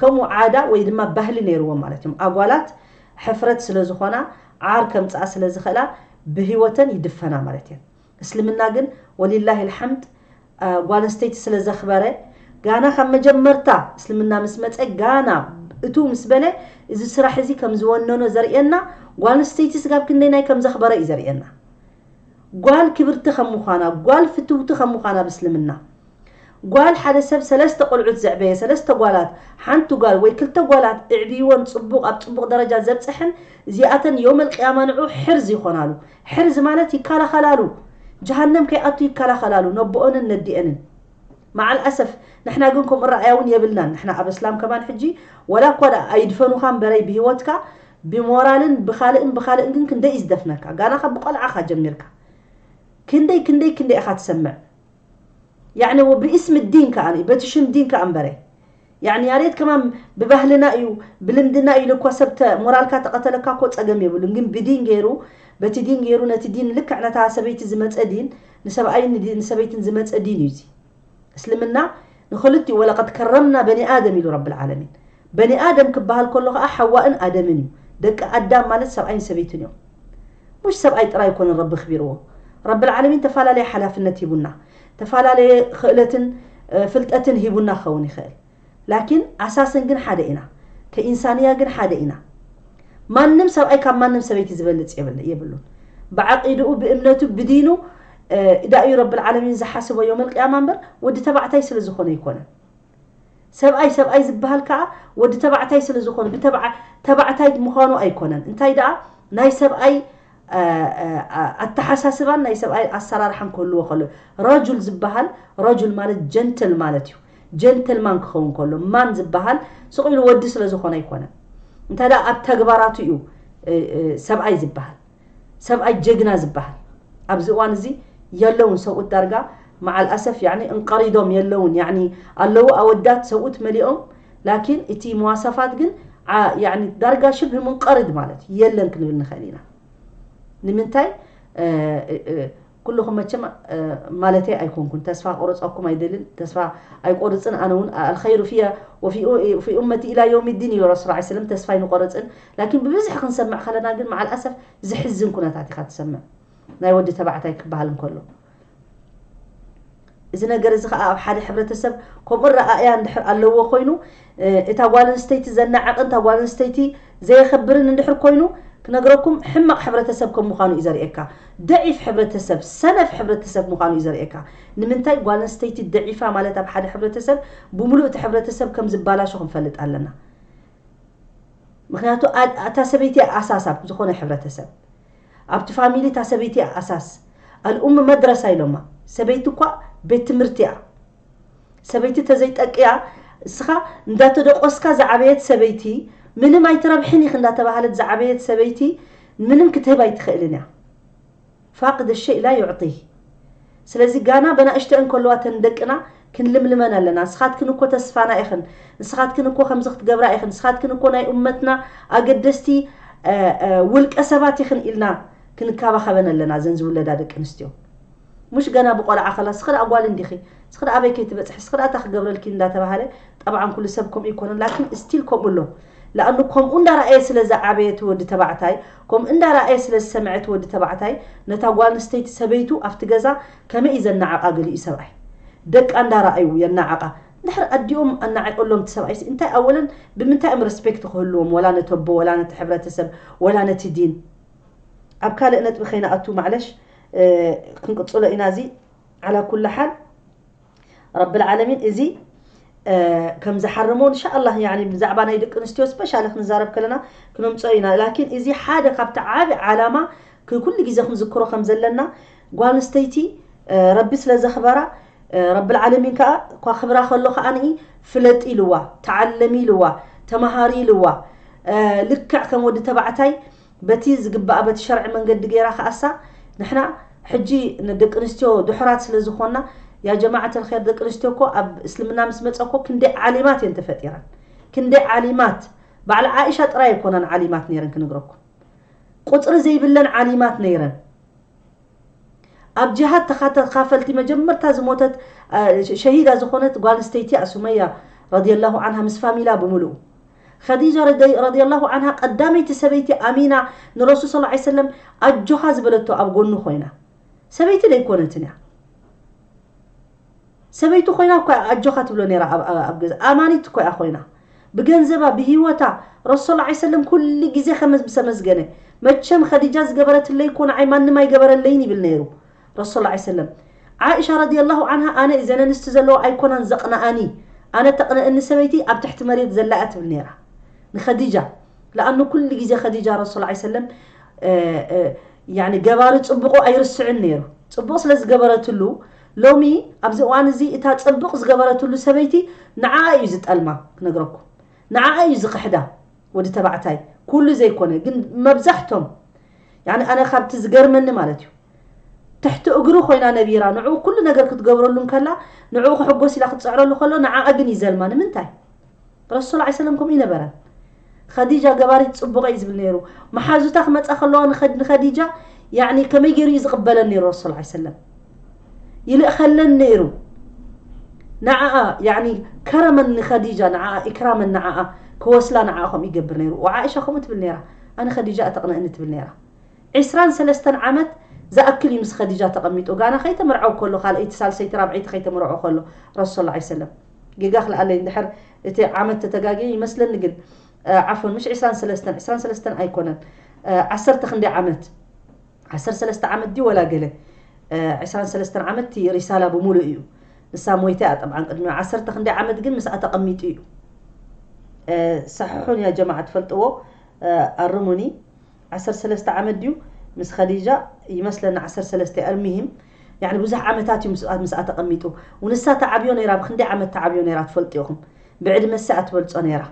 ከምኡ ዓዳ ወይ ድማ ባህሊ ነይርዎም ማለት እዮም ኣጓላት ሕፍረት ስለ ዝኾና ዓር ከምጽኣ ስለ ዝኽእላ ብህይወተን ይድፈና ማለት እየን እስልምና ግን ወሊላሂ ኣልሓምድ ጓል ኣንስተይቲ ስለ ዘኽበረ ጋና ካብ መጀመርታ እስልምና ምስ መጸ ጋና እቱ ምስ በለ እዚ ስራሕ እዚ ከም ዝወነኖ ዘርእየና ጓል ኣንስተይቲ ስጋብ ክንደይ ናይ ከም ዘኽበረ እዩ ዘርእየና ጓል ክብርቲ ከም ምዃና፣ ጓል ፍትውቲ ከም ምዃና ብ እስልምና ጓል ሓደ ሰብ ሰለስተ ቆልዑት ዘዕበየ፣ ሰለስተ ጓላት፣ ሓንቲ ጓል ወይ ክልተ ጓላት እዕብይወን ጽቡቕ ኣብ ጽቡቕ ደረጃ ዘብጸሐን እዚኣተን ዮመል ቂያማ ንዑ ሕርዝ ይኾናሉ ሕርዝ ማለት ይካላኸላሉ ጀሃነም ከይኣቱ ይካላኸላሉ ነቦኦንን ነዲኤንን መዓል ኣሰፍ ንሕና ግን ከምኡ ኣረኣእያ እውን የብልናን ንሕና ኣብ እስላም ከማን ሕጂ ዋላ እኳ ደኣ ኣይድፈኑኻ እምበረይ ብሂወትካ ብሞራልን ብኻልእን ብኻልእን ግን ክንደይ እዩ ዝደፍነካ ጋና ካብ ቆልዓኻ ጀሚርካ ክንደይ ክንደይ ክንደይ ኢኻ ትሰምዕ ያዕኒ ወብእስሚ ዲን ከኣ በቲ ሽም ዲን ከኣ እምበረ ያዕኒ ያሬድ ከማን ብባህልና እዩ ብልምድና እዩ ኢሉኳ ሰብ ተ ሞራልካ ተቐተለካ እኮ ጸገም የብሉን ግን ብዲን ገይሩ በቲ ዲን ገይሩ ነቲ ዲን ልክዕ ነታ ሰበይቲ ዝመጸ ዲን ንሰብኣይን ንሰበይትን ዝመጸ ዲን እዩ እዚ እስልምና ንክልቲኡ ወለቀድ ከረምና በኒ ኣደም ኢሉ ረብል ዓለሚን። በኒ ኣደም ክበሃል ከሎ ከኣ ሓዋእን ኣደምን እዩ። ደቂ ኣዳም ማለት ሰብኣይን ሰበይትን እዮም። ሙሽ ሰብኣይ ጥራይ ኣይኮነን ረቢ ኣክቢርዎ። ረብል ዓለሚን ተፋላለየ ሓላፍነት ሂቡና። ተፋላለየ ክእለትን ፍልጠትን ሂቡና ክኸውን ይክእል። ላኪን ኣሳስን ግን ሓደ ኢና ከኢንሳንያ ግን ሓደ ኢና ማንም ሰብኣይ ካብ ማንም ሰበይቲ ዝበልጽ የብሉን ብዓቂድኡ ብእምነቱ ብዲኑ እዳ እዩ ረብል ዓለሚን ዝሓስቦ ዮመል ቅያማ እምበር ወዲ ተባዕታይ ስለ ዝኾነ ኣይኮነን ሰብኣይ ሰብኣይ ዝበሃል ከኣ ወዲ ተባዕታይ ስለ ዝኾነ ብተባዕ ተባዕታይ ምዃኑ ኣይኮነን እንታይ ደኣ ናይ ሰብኣይ ኣተሓሳስባን ናይ ሰብኣይ ኣሰራርሓን ክህልዎ ከሎ ረጁል ዝበሃል ረጁል ማለት ጀንትል ማለት እዩ ጀንትልማን ክኸውን ከሎ ማን ዝበሃል ስቕ ኢሉ ወዲ ስለ ዝኾነ ኣይኮነን እንታይ ደኣ ኣብ ተግባራቱ እዩ ሰብኣይ ዝበሃል ሰብኣይ ጀግና ዝበሃል ኣብዚ እዋን እዚ የለውን ሰብኡት ዳርጋ መዓል ኣሰፍ ያኒ እንቀሪዶም የለውን ያኒ ኣለዉ ኣወዳት ሰብኡት መሊኦም ላኪን እቲ መዋሳፋት ግን ዓ ያኒ ዳርጋ ሽብህ ሙንቀርድ ማለት የለን ክንብል ንክእል ኢና ንምንታይ እ እ ኩሉኩም መቸም እ ማለተይ ኣይኮንኩን ተስፋ ክቁርጸኩም ኣይደልን ተስፋ ኣይቆርጽን ኣነ ውን ኣልከይሩ ፍያ ወፊ ኡ ፊ ኡመቲ ኢላ ዮውሚ ዲን ኢሉ ረሱል ዓይ ሰለም ተስፋ ኣይንቆርጽን ላኪን ብብዝሒ ክንሰምዕ ከለና ግን መዓል ኣሰፍ ዝሕዝን ኩነታት ኢካ ትሰምዕ ናይ ወዲ ተባዕታይ ክበሃል እንከሎ እዚ ነገር እዚ ከዓ ኣብ ሓደ ሕብረተሰብ ከምኡ ረኣእያ እንድሕር ኣለዎ ኮይኑ እታ ጓል ኣንስተይቲ ዘናዕቕን እታ ጓል ኣንስተይቲ ዘየኸብርን እንድሕር ኮይኑ ክነግረኩም ሕማቕ ሕብረተሰብ ከም ምዃኑ እዩ ዘርእየካ ደዒፍ ሕብረተሰብ ሰነፍ ሕብረተሰብ ምዃኑ እዩ ዘርእየካ ንምንታይ ጓል ኣንስተይቲ ደዒፋ ማለት ኣብ ሓደ ሕብረተሰብ ብምሉእ እቲ ሕብረተሰብ ከም ዝባላሾ ክንፈልጥ ኣለና ምክንያቱ እታ ሰበይቲ ኣሳሳብ ዝኾነ ሕብረተሰብ ኣብቲ ፋሚሊ እታ ሰበይቲ እያ ኣሳስ ኣልኡም መድረሳ ኢሎማ ሰበይቲ እኳ ቤት ትምህርቲ እያ ሰበይቲ ተዘይ ጠቅያ እስኻ እንዳተደቆስካ ዝዓበየት ሰበይቲ ምንም ኣይትረብሕን ኢኺ እንዳተባሃለት ዝዓበየት ሰበይቲ ምንም ክትህብ ኣይትኽእልን እያ ፋቅድ ሸይ ላ ዩዕጢህ ስለዚ ጋና በናእሽተኤን ከለዋ እተን ደቅና ክንልምልመን ኣለና ንስኻትክን እኮ ተስፋና ኢኽን ንስኻትክን እኮ ከምዚ ክትገብራ ኢኽን ንስኻትክን እኮ ናይ ኡመትና ኣገደስቲ ውልቀ ሰባት ኢኽን ኢልና ክንካባኸበን ኣለና እዘን ዝውለዳ ደቂ ኣንስትዮ ሙሽ ገና ብቆልዓ ከላ እስኺ ደኣ ጓል እንዲኺ እስኺ ደኣ ኣበይ ከይትበፅሒ እስኺ ደኣ እታ ክገብረልኪ እንዳተባሃለ ጠብዓን ኩሉ ሰብ ከምኡ ይኮነን ላኪን ስቲል ከምኡ ኣሎ ለኣኑ ከምኡ እንዳረኣየ ስለ ዝዓበየ እቲ ወዲ ተባዕታይ ከምኡ እንዳ ረኣየ ስለ ዝሰምዐ እቲ ወዲ ተባዕታይ ነታ ጓል ኣንስተይቲ ሰበይቱ ኣብቲ ገዛ ከመይ እዩ ዘናዕቃ ገሊኡ ሰብኣይ ደቃ እንዳ ረኣዩ የናዕቃ እንድሕር ኣዲኦም ኣናዒቅሎም እቲ ሰብኣይሲ እንታይ ኣወለን ብምንታይ እዮም ረስፔክት ክህልዎም ወላ ነቲ ኣቦ ወላ ነቲ ሕብረተሰብ ወላ ነቲ ዲን ኣብ ካልእ ነጥቢ ከይንኣቱ ማዕለሽ ክንቅጽሎ ኢና እዚ ዓላ ኩሉ ሓል ረቢ ልዓለሚን እዚ ከም ዝሓርሞ እንሻኣላህ ያኒ ብዛዕባ ናይ ደቂ ኣንስትዮ ስፔሻሊ ክንዛረብ ከለና ክነምፅኦ ኢና ላኪን እዚ ሓደ ካብቲ ዓብ ዓላማ ኩሉ ግዜ ክንዝክሮ ከም ዘለና ጓል ኣንስተይቲ ረቢ ስለ ዘኽበራ ረቢ ልዓለሚን ከዓ እኳ ክብራ ከሎ ከዓ ንኢ ፍለጢ ኢልዋ ተዓለሚ ኢልዋ ተምሃሪ ኢልዋ ልክዕ ከም ወዲ ተባዕታይ በቲ ዝግባኣ በቲ ሸርዒ መንገዲ ገይራ ክኣሳ ንሕና ሕጂ ንደቂ ኣንስትዮ ድሑራት ስለ ዝኾና ያጀማዐት ኣልኸይር ደቂ ኣንስትዮ እኮ ኣብ እስልምና ምስ መጸ እኮ ክንደይ ዓሊማት እየን ተፈጢረን ክንደይ ዓሊማት ባዕላ ዓኢሻ ጥራይ ኣይኮናን ዓሊማት ነይረን ክንግረኩም ቁጽሪ ዘይብለን ዓሊማት ነይረን ኣብ ጅሃድ ተኻተኻፈልቲ መጀመርታ ዝሞተት ሸሂዳ ዝኾነት ጓል ኣንስተይቲ እያ ሱመያ ረዲየላሁ ዓንሃ ምስ ፋሚላ ብምሉኡ ኸዲጃ ረዲየላሁ ዓንሃ ቀዳመይቲ ሰበይቲ ኣሚና ንረሱል ስ ላ ሰለም ኣጆኻ ዝበለቶ ኣብ ጎኑ ኮይና ሰበይቲ ደይኮነትን እያ ሰበይቱ ኮይና እኮ እያ ኣጆካ ትብሎ ነይራ ኣብ ኣብ ገዛ ኣማኒት እኮ እያ ኮይና ብገንዘባ ብሂወታ ረሱል ዓይ ሰለም ኩሉ ግዜ ከመ ሰመስገነ መቸም ከዲጃ ዝገበረትለይ እኮ ንዓይ ማንም ኣይገበረለይን ይብል ነይሩ ረሱል ዓይ ሰለም ዓኢሻ ረዲየላሁ ዓንሃ ኣነ እዘን ኣንስቲ ዘለዋ ኣይኮናን ዘቅንኣኒ ኣነ ተቅንእኒ ሰበይቲ ኣብ ትሕቲ መሬት ዘላ እያ ትብል ነይራ ንከዲጃ ለኣኑ ኩሉ ግዜ ከዲጃ ረሱል ዓይ ሰለም ያኒ ገባሪ ጽቡቁ ኣይርስዕን ነይሩ ጽቡቅ ስለ ዝገበረትሉ ሎሚ ኣብዚ እዋን እዚ እታ ጽብቅ ዝገበረትሉ ሰበይቲ ንዓኣ እዩ ዝጠልማ ክነግረኩም ንዓኣ እዩ ዝኽሕዳ ወዲ ተባዕታይ ኩሉ ዘይኮነ ግን መብዛሕቶም ያኒ ኣነ ካብቲ ዝገርመኒ ማለት እዩ ትሕቲ እግሩ ኮይና ነቢራ ንዕኡ ኩሉ ነገር ክትገብረሉ እንከላ ንዕኡ ክሕጎስ ኢላ ክትጽዕረሉ ከሎ ንዓኣ ግን ይዘልማ ንምንታይ ረሱል ዓል ሰለም ከምኡ ኣይነበረን ኸዲጃ ገባሪት ጽቡቕ እዩ ዝብል ነይሩ መሓዙታ ክመጻ ከለዋ ንኸዲጃ ያኒ ከመይ ገይሩ እዩ ዝቕበለን ነይሩ ረሱል ዓል ሰለም ይልእኸለን ነይሩ ንዓኣ ያኒ ከረመን ንኸዲጃ ንዓኣ ኢክራመን ንዓኣ ክወስላ ንዓኣ ከምኡ ይገብር ነይሩ ወዓኢሻ ከምኡ ትብል ነይራ ኣነ ኸዲጃ እተቕንእኒ ትብል ነይራ ዕስራን ሰለስተን ዓመት ዝኣክል እዩ ምስ ኸዲጃ ተቐሚጡ ጋና ከይተመርዐው ከሎ ካልኣይቲ ሳልሰይቲ ራብዐይቲ ከይተመርዖ ከሎ ረሱል ላ ሰለም ጌጋ ክልኣለይ እንድሕር እቲ ዓመት ተተጋግየ ይመስለኒ ግን ዓፍወን ምሽ ዕስራን ሰለስተን ዕስራን ሰለስተን ኣይኮነን ዓሰርተ ክንደይ ዓመት ዓሰርተ ሰለስተ ዓመት ድዩ ወላ ገለ ዕስራን ሰለስተን ዓመት እቲ ሪሳላ ብምሉእ እዩ ንሳ ሞይታ እያ ጠብዓን ቅድሚ ዓሰርተ ክንደይ ዓመት ግን ምስኣ ተቐሚጡ እዩ ሳሕሑን እያ ጀማዓ ትፈልጥዎ ኣርሙኒ ዓሰርተ ሰለስተ ዓመት ድዩ ምስ ከዲጃ ይመስለኒ ዓሰርተ ሰለስተ እያ ኣልሚሂም ያኒ ብዙሕ ዓመታት እዩ ምስኣ ምስኣ ተቐሚጡ ውንሳ ተዓብዮ ነይራ ብክንደይ ዓመት ተዓብዮ ነይራ ትፈልጡ ኢኹም ብዕድመ ሰ ኣትበልጾ ነይራ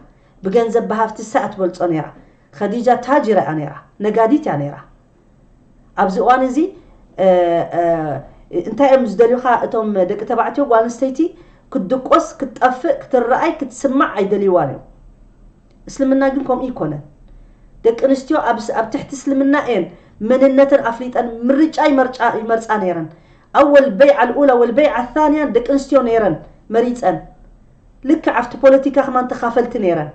ብገንዘብ ብሃፍቲ ሰ ኣትበልጾ ነይራ ከዲጃ ታጅራ እያ ነይራ ነጋዲት እያ ነይራ ኣብዚ እዋን እዚ እንታይ እዮም ዝደልዩኻ እቶም ደቂ ተባዕትዮ ጓል ኣንስተይቲ ክትድቆስ ክትጠፍእ ክትረኣይ ክትስማዕ ኣይደልይዋን እዮም እስልምና ግን ከምኡ እይኮነን ደቂ ኣንስትዮ ኣብ ትሕቲ እስልምና እየን መንነተን ኣፍሊጠን ምርጫ ይመርጫ ይመርጻ ነይረን ኣወል በይዓ ኣልኡላ ወልበይዓ ኣልታንያ ደቂ ኣንስትዮ ነይረን መሪጸን ልክዕ ኣብቲ ፖለቲካ ከማን ተኻፈልቲ ነይረን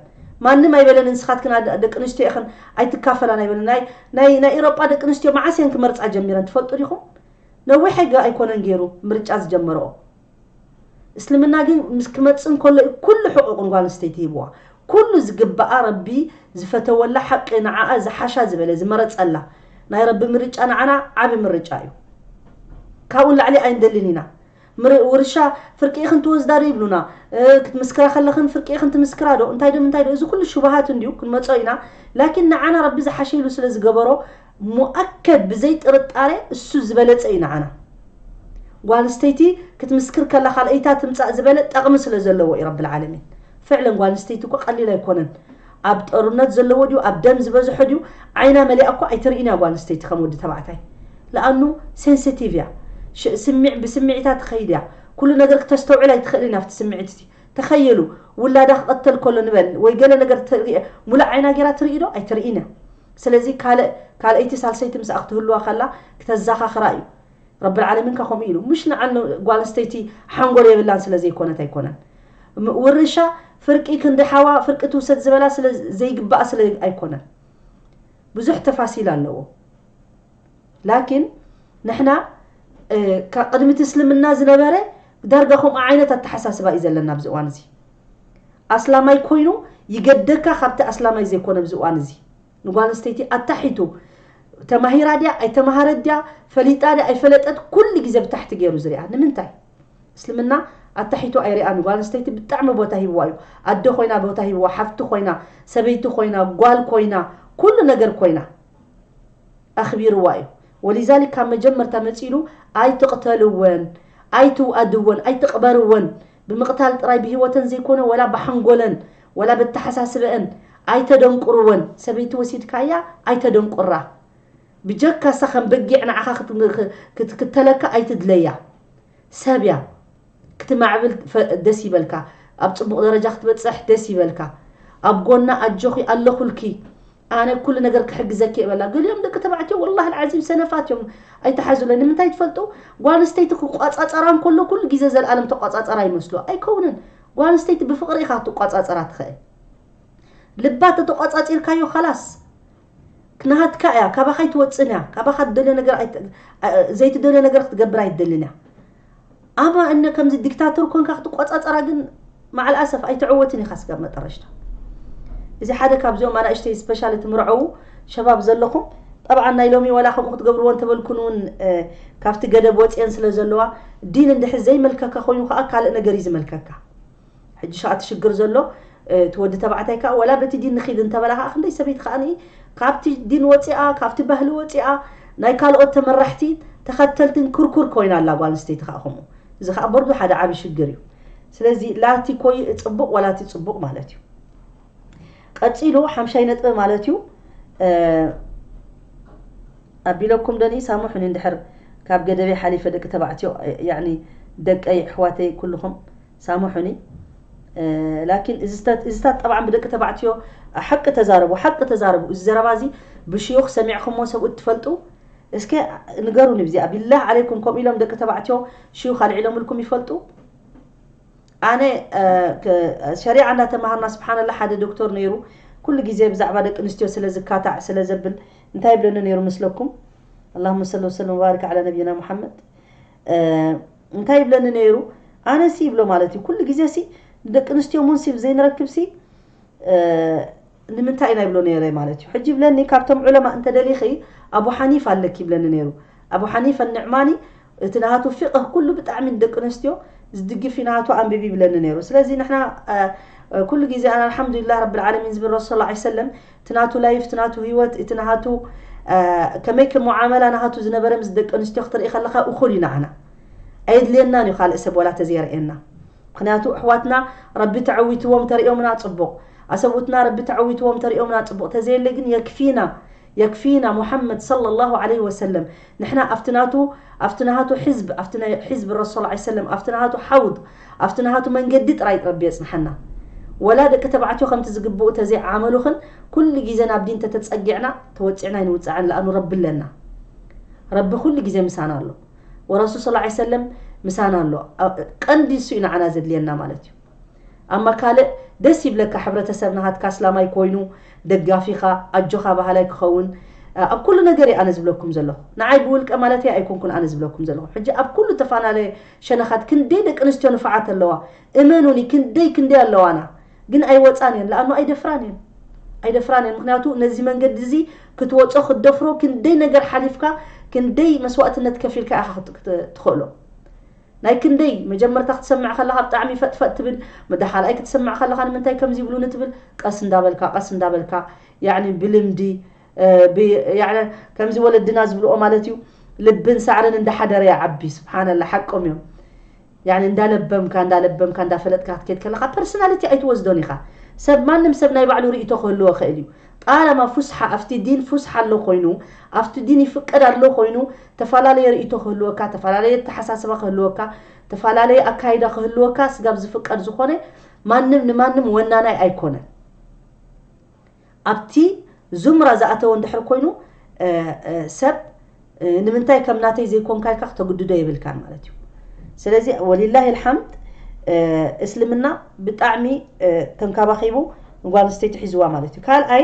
ማንም ኣይበለን ንስኻትክን ደቂ ኣንስትዮ ኢኽን ኣይትካፈላን ኣይበለን ናይ ናይ ናይ ኢሮጳ ደቂ ኣንስትዮ መዓስ እየን ክመርጻ ጀሚረን ትፈልጡ ዲኹም ነዊሕ ኣይኮነን ገይሩ ምርጫ ዝጀመረኦ እስልምና ግን ምስ ክመጽእ እንከሎ እዩ ኩሉ ሕቑቕ ንጓል ኣንስተይቲ ሂብዋ ኩሉ ዝግብኣ ረቢ ዝፈተወላ ሓቂ ንዓኣ ዝሓሻ ዝበለ ዝመረጸላ ናይ ረቢ ምርጫ ንዓና ዓቢ ምርጫ እዩ ካብኡ ንላዕሊ ኣይንደልን ኢና ምር ውርሻ ፍርቂ ኢኽን ትወስዳ ዶ ይብሉና ክትምስክራ ከለኽን ፍርቂ ኢኽን ትምስክራ ዶ እንታይ ዶ ምንታይ ዶ እዚ ኩሉ ሽብሃት እንድዩ ክንመጾ ኢና ላኪን ንዓና ረቢ ዝሓሸ ኢሉ ስለ ዝገበሮ ሙኣከድ ብዘይ ጥርጣረ እሱ ዝበለጸ እዩ ንዓና። ጓል ኣንስተይቲ ክትምስክር ከላ ካልኣይታ ትምጻእ ዝበለ ጠቕሚ ስለ ዘለዎ እዩ ረቢ ልዓለሚን። ፍዕለን ጓል ኣንስተይቲ እኮ ቀሊል ኣይኮነን ኣብ ጠሩነት ዘለዎ ድዩ ኣብ ደም ዝበዝሖ ድዩ ዓይና መሊኣ እኮ ኣይትርእን እያ ጓል ኣንስተይቲ ከም ወዲ ተባዕታይ ልኣኑ ሴንሰቲቭ እያ ሽ ስሚዕ ብስምዒታ ትኸይድ እያ ኩሉ ነገር ክተስተውዕል ኣይትኽእልን ኣብቲ ስምዒት እቲ ተኸየሉ ውላዳ ክቐተል ከሎ ንበል ወይ ገለ ነገር ትርኢ ሙሉእ ዓይና ጌራ ትርኢ ዶ ኣይትርኢን እያ ስለዚ ካልእ ካልኣይቲ ሳልሰይቲ ምስኣ ክትህልዋ ከላ ክተዛኻኽራ እዩ ረቢ ልዓለሚን ከ ከምኡ ኢሉ ምሽ ንዓ ን ጓል ኣንስተይቲ ሓንጎል የብላን ስለ ዘይኮነት ኣይኮነን እም ውርሻ ፍርቂ ክንዲ ሓዋ ፍርቂ ትውሰድ ዝበላ ስለ ዘይግባኣ ስለ ኣይኮነን ብዙሕ ተፋሲል ኣለዎ ላኪን ንሕና እ፣ ካ- ቅድሚ እቲ እስልምና ዝነበረ ዳርጋ ከምኡ ዓይነት ኣተሓሳስባ እዩ ዘለና ኣብዚ እዋን እዚ ኣስላማይ ኮይኑ ይገደካ ካብቲ ኣስላማይ ዘይኮነ ኣብዚ እዋን እዚ ንጓል ኣንስተይቲ ኣታሒቱ ተማሂራ ድያ ኣይተማሃረት ድያ ፈሊጣ ድያ ኣይፈለጠት ኩሉ ግዜ ብታሕቲ ገይሩ ዝሪኣ ንምንታይ እስልምና ኣታሒቱ ኣይሪኣን ጓል ኣንስተይቲ ብጣዕሚ ቦታ ሂብዋ እዩ ኣደ ኮይና ቦታ ሂብዋ ሓፍቲ ኮይና ሰበይቲ ኮይና ጓል ኮይና ኩሉ ነገር ኮይና ኣኽቢርዋ እዩ ወሊዛሊክ ካብ መጀመርታ መፂሉ ኣይትቕተልወን ኣይትውኣድወን ኣይትቕበርወን ብምቕታል ጥራይ ብሂወተን ዘይኮነ ወላ ብሓንጎለን ወላ በተሓሳስበእን ኣይተደንቁርወን ሰበይቲ ወሲድካያ ኣይተደንቁራ ብጀካ እሳ ከም በጊዕ ንዓኻ ክትክተለካ ኣይትድለያ ሰብ እያ ክትማዕብል ደስ ይበልካ ኣብ ጽቡቕ ደረጃ ክትበጽሕ ደስ ይበልካ ኣብ ጎና ኣጆኺ ኣለኹልኪ ኣነ ኩሉ ነገር ክሕግዘኪ እየ በላ ገሊኦም ደቂ ተባዕትዮ ወላሂ ኣልዓዚም ሰነፋት እዮም ኣይተሓዙለይ ንምንታይ ትፈልጡ ጓል ኣንስተይቲ ክቋጻጸራ እንከሎ ኩሉ ግዜ ዘልኣለም ተቋጻጸራ ይመስሎ ኣይከውንን ጓል ኣንስተይቲ ብፍቕሪ ኢኻ ክትቋጻጸራ ትኽእል ልባ ተተቋጻጺርካዮ ኸላስ ናሃትካ እያ ካባኻ ኣይትወጽእን እያ ካባኻ ትደልዮ ነገር ዘይትደልዮ ነገር ክትገብር ኣይትደልን እያ ኣማ እነ ከምዚ ዲክታቶር ኮንካ ክትቆጻጸራ ግን መዓል ኣሰፍ ኣይትዕወትን ኢኻ ስጋብ መጠረሽታ እዚ ሓደ ካብዚኦም ኣናእሽተይ ስፔሻል እቲ ምርዐዉ ሸባብ ዘለኹም ጠብዓ ናይ ሎሚ ወላ ከምኡ ክትገብርዎ እንተበልኩን እውን ካብቲ ገደብ ወፅየን ስለ ዘለዋ ዲን እንድሕር ዘይመልከካ ኮይኑ ከዓ ካልእ ነገር እዩ ዝመልከካ ሕጂ ሻዓ እቲ ሽግር ዘሎ እቲ ወዲ ተባዕታይ ካኣ ወላ በቲ ዲን ንኪድ እንተበላ ካኣ ክንደይ ሰበይቲ ካኣ ካብቲ ዲን ወጺኣ ካብቲ ባህሊ ወጺኣ ናይ ካልኦት ተመራሕቲ ተከተልትን ኩርኩር ኮይና ኣላ ጓል ኣንስተይቲ ካኣ ከምኡ እዚ ካኣ በርዱ ሓደ ዓቢ ሽግር እዩ ስለዚ ላቲ ኮይ ጽቡቅ ወላቲ ጽቡቅ ማለት እዩ ቀጺሉ ሓምሻይ ነጥቢ ማለት እዩ ኣቢለኩም ደኒ ሳሙሑኒ እንድሕር ካብ ገደበይ ሓሊፈ ደቂ ተባዕትዮ ያኒ ደቀይ ኣሕዋተይ ኩልኹም ሳሙሑኒ ላኪን እዚታት ጠባዕን ብደቂ ተባዕትዮ ሓቂ ተዛረቡ ሓቂ ተዛረቡ እዚ ዘረባ እዚ ብሽዩኽ ሰሚዕኹሞ ሰብኡት እትፈልጡ እስከ ንገሩኒ ብዚኣ ቢላህ ዓለይኩም ከምኡ ኢሎም ደቂ ተባዕትዮ ሽዩኽ ኣልዒሎምልኩም ይፈልጡ ኣነ ሸሪዓ እንዳተማሃርና ስብሓንላ ሓደ ዶክተር ነይሩ ኩሉ ግዜ ብዛዕባ ደቂ ኣንስትዮ ስለ ዝካታዕ ስለ ዘብል እንታይ ይብለኒ ነይሩ ምስለኩም ኣላሁመ ሰሊ ወሰለም ወባሪክ ዓላ ነቢይና ሙሓመድ እንታይ ይብለኒ ነይሩ ኣነ ሲ ይብሎ ማለት እዩ ኩሉ ግዜ ሲ ንደቂ ኣንስትዮ እውን ሲ ብዘይንረክብ ሲ ንምንታይ ኢና ይብሎ ነይረ ማለት እዩ ሕጂ ይብለኒ ካብቶም ዑለማ እንተደሊኺ ኣቡ ሓኒፍ ኣለኪ ይብለኒ ነይሩ ኣቡ ሓኒፍ ንዕማኒ እቲ ናቱ ፊቅህ ኩሉ ብጣዕሚ ንደቂ ኣንስትዮ ዝድግፍ ናቱ ኣንብቢ ይብለኒ ነይሩ ስለዚ ንሕና ኩሉ ግዜ ኣነ ኣልሓምዱሊላህ ረቢ ዓለሚን ዝብል ረሱል ላ ሰለም እቲ ናቱ ላይፍ እቲ ናቱ ሂወት እቲ ናሃቱ ከመይ ከም ሙዓመላ ናሃቱ ዝነበረ ምስ ደቂ ኣንስትዮ ክትርኢ ከለኻ እኹል እዩ ናዓና ኣየድልየናን እዩ ካልእ ሰብ ዋላ ተዘየርእየና ምኽንያቱ ኣሕዋትና ረቢ ተዐዊትዎም ተርእዮምና ጽቡቕ ኣሰብኡትና ረቢ ተዐዊትዎም ተርእዮምና ጽቡቕ ተዘየለ ግን የክፊና የክፊና ሙሐመድ ሰለላሁ ዓለይሂ ወሰለም ንሕና ኣብቲ ናቱ ኣብቲ ናሃቱ ሕዝብ ኣብቲ ናይ ሕዝብ ረሶል ዓይ ሰለም ኣብቲ ናሃቱ ሓውድ ኣብቲ ናሃቱ መንገዲ ጥራይ ረቢ የጽንሓና ወላ ደቂ ተባዕትዮ ከምቲ ዝግብኡ ተዘይ ዓመሉክን ኩሉ ግዜ ናብ ዲን ተተጸጊዕና ተወጺዕና ኣይንውጻዕን ለኣኑ ረቢ ኣለና ረቢ ኩሉ ግዜ ምሳና ኣሎ ወረሱል ሰለዓይ ሰለም ምሳና ኣሎ ቀንዲ እሱ እዩ ንዓና ዘድልየና ማለት እዩ። ኣማ ካልእ ደስ ይብለካ ሕብረተሰብ ናሃትካ ኣስላማይ ኮይኑ ደጋፊካ ኣጆካ ባሃላይ ክከውን ኣብ ኩሉ ነገር እየ ኣነ ዝብለኩም ዘለኩ ናዓይ ብውልቀ ማለተይ ኣይኮንኩን ኣነ ዝብለኩም ዘለኩ ሕጂ ኣብ ኩሉ ተፋናለየ ሸነካት ክንደይ ደቂ ኣንስትዮ ንፋዓት ኣለዋ እመኑኒ ክንደይ ክንደይ ኣለዋና ግን ኣይወጻን እየን ላኣኑ ኣይደፍራን እየን ኣይደፍራን እየን ምክንያቱ ነዚ መንገዲ እዚ ክትወጾ ክትደፍሮ ክንደይ ነገር ሓሊፍካ ክንደይ መስዋእትነት ከፊልካ ኢካ ትክእሎ ናይ ክንደይ መጀመርታ ክትሰምዕ ከለካ ብጣዕሚ ፈጥ ፈጥ ትብል መዳሓልኣይ ክትስምዕ ከለካ ንምንታይ ከምዚ ይብሉኒ ትብል ቀስ እንዳበልካ ቀስ እንዳበልካ ያዕኒ ብልምዲ ብ ያዕኒ ከምዚ ወለድና ዝብልኦ ማለት እዩ ልብን ሳዕርን እንዳሓደረ ይዓቢ ስብሓነላ ሓቆም እዮም ያዕኒ እንዳለበምካ እንዳለበምካ እንዳፈለጥካ ክትከድ ከለካ ፐርሰናሊቲ ኣይትወስዶን ኢካ ሰብ ማንም ሰብ ናይ ባዕሉ ርእይቶ ክህልዎ ይክእል እዩ ጣላማ ፉስሓ ኣብቲ ዲን ፉስሓ ኣሎ ኮይኑ ኣብቲ ዲን ይፍቀድ ኣሎ ኮይኑ ተፈላለየ ርእይቶ ክህልወካ፣ ተፈላለየ ኣተሓሳስባ ክህልወካ፣ ተፈላለየ ኣካይዳ ክህልወካ ስጋብ ዝፍቀድ ዝኾነ ማንም ንማንም ወናናይ ኣይኮነን። ኣብቲ ዙምራ ዝኣተወ እንድሕር ኮይኑ ሰብ ንምንታይ ከም ናተይ ዘይኮንካ ኢልካ ክተግድዶ የብልካን ማለት እዩ። ስለዚ ወሊላሂ ልሓምድ እስልምና ብጣዕሚ ተንካባኺቡ ንጓል ኣንስተይቲ ሒዝዋ ማለት እዩ። ካልኣይ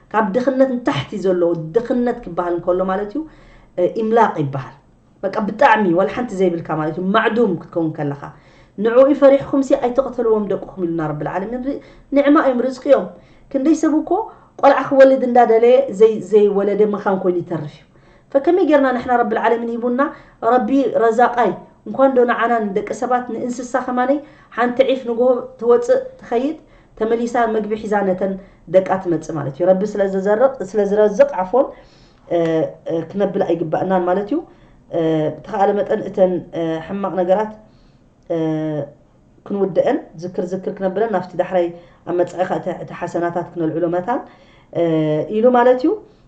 ካብ ድኽነት ንታሕቲ ዘሎ ድኽነት ክበሃል እንከሎ ማለት እዩ ኢምላቕ ይበሃል በቃ ብጣዕሚ ዋላ ሓንቲ ዘይብልካ ማለት እዩ ማዕዱም ክትከውን ከለኻ ንዕኡ ፈሪሕኩም ሲ ኣይትቕተልዎም ደቅኹም ኢሉና ረቢ ልዓለሚን ንዕማ እዮም ርዝቂ እዮም ክንደይ ሰብ እኮ ቆልዓ ክወልድ እንዳደለየ ዘይወለደ መኻን ኮይኑ ይተርፍ እዩ ፈከመይ ጌርና ንሕና ረቢ ልዓለሚን ሂቡና ረቢ ረዛቃይ እንኳን ዶ ንዓና ንደቂ ሰባት ንእንስሳ ከማነይ ሓንቲ ዒፍ ንጎሆ ትወፅእ ትኸይድ ተመሊሳ ምግቢ ሒዛ ነተን ደቃ ትመጽእ ማለት እዩ። ረቢ ስለ ዝዘርቕ ስለ ዝረዝቕ ዓፎን ክነብል ኣይግባእናን ማለት እዩ። ብተኻእለ መጠን እተን ሕማቕ ነገራት ክንውደአን ዝክር ዝክር ክነብለን ናብቲ ዳሕራይ ኣብ መጻኢኻ እቲ ሓሰናታት ክነልዕሎ መታን ኢሉ ማለት እዩ።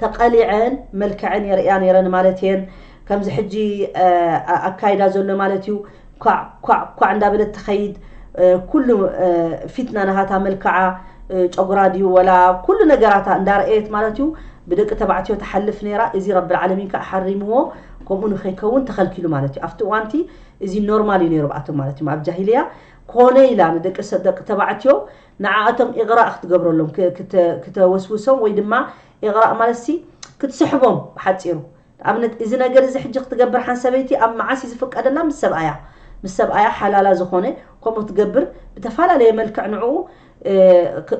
ተቐሊዐን መልክዐን የርእያ ነይረን ማለት እየን። ከምዚ ሕጂ ኣካይዳ ዘሎ ማለት እዩ። ኳዕ ኳዕ ኳዕ እንዳበለት ትኸይድ። ኩሉ ፊትና ናሃታ መልክዓ ጨጉራ ድዩ ወላ ኩሉ ነገራታ እንዳረኣየት ማለት እዩ ብደቂ ተባዕትዮ ትሓልፍ ነይራ። እዚ ረብልዓለሚን ከኣ ሓሪምዎ ከምኡ ንኸይከውን ተኸልኪሉ ማለት እዩ። ኣብቲ እዋን እቲ እዚ ኖርማል እዩ ነይሩ ብኣቶም ማለት እዩ። ኣብ ጃሂልያ ኮነ ኢላ ንደቂ ደቂ ተባዕትዮ ንዓኣቶም ኢቕራእ ክትገብረሎም ክተወስውሶም ወይ ድማ ኢቕራእ ማለትሲ ክትስሕቦም ብሓጺሩ ንኣብነት እዚ ነገር እዚ ሕጂ ክትገብር ሓን ሰበይቲ ኣብ መዓስ እዩ ዝፍቀደላ ምስ ሰብኣያ ምስ ሰብኣያ ሓላላ ዝኾነ ከምኡ ክትገብር ብተፈላለየ መልክዕ ንዕኡ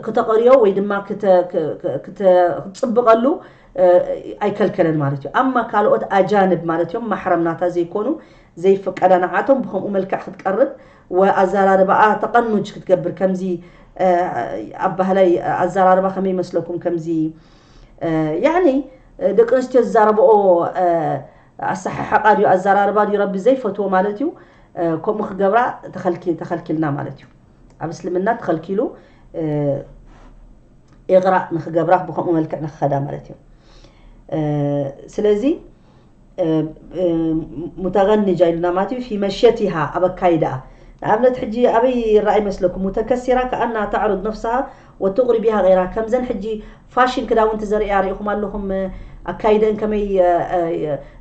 ክተቐርዮ ወይ ድማ ክትፅብቐሉ ኣይከልከለን ማለት እዩ ኣማ ካልኦት ኣጃንብ ማለት እዮም ማሕረም ናታ ዘይኮኑ ዘይፍቀዳ ንዓቶም ብከምኡ መልክዕ ክትቀርብ እወ ኣዛራርባኣ ተቀኑጅ ክትገብር ከምዚ ኣባህላይ ኣዛራርባ ከመይ ይመስለኩም ከምዚ ያኒ ደቂ ኣንስትዮ ዝዛረበኦ ኣሰሓሕቃ ድዩ ኣዛራርባ ድዩ ረቢ ዘይፈትዎ ማለት እዩ ከምኡ ክገብራ ተኸልኪልና ማለት እዩ ኣብ እስልምና ተኸልኪሉ ኢቕራእ ንክገብራ ብከምኡ መልክዕ ንክኸዳ ማለት እዩ ስለዚ ሙተገንጃ ኢሉና ማለት እዩ ፊ መሸቲሃ ኣብ ኣካይዳኣ ንኣብነት ሕጂ ኣበይ ይረኣ ይመስለኩም ሙተከሲራ ከኣና ተዕርድ ነፍስሃ ወትቕሪ ቢሃ ገይራ ከምዘን ሕጂ ፋሽን ክዳውንቲ ዘርእያ ሪኢኹም ኣለኹም ኣካይደን ከመይ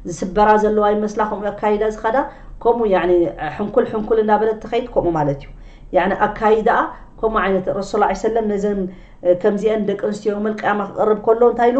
ዝስበራ ዘለዋ ይመስላ ከምኡ ኣካይዳ ዝኸዳ ከምኡ ያኒ ሕንኩል ሕንኩል እንዳበለት ትኸይድ ከምኡ ማለት እዩ ያኒ ኣካይዳኣ ከምኡ ዓይነት ረሱል ላ ሰለም ነዘን ከምዚአን ደቂ ኣንስትዮ መልቅያማ ክቐርብ ከሎ እንታይ ኢሉ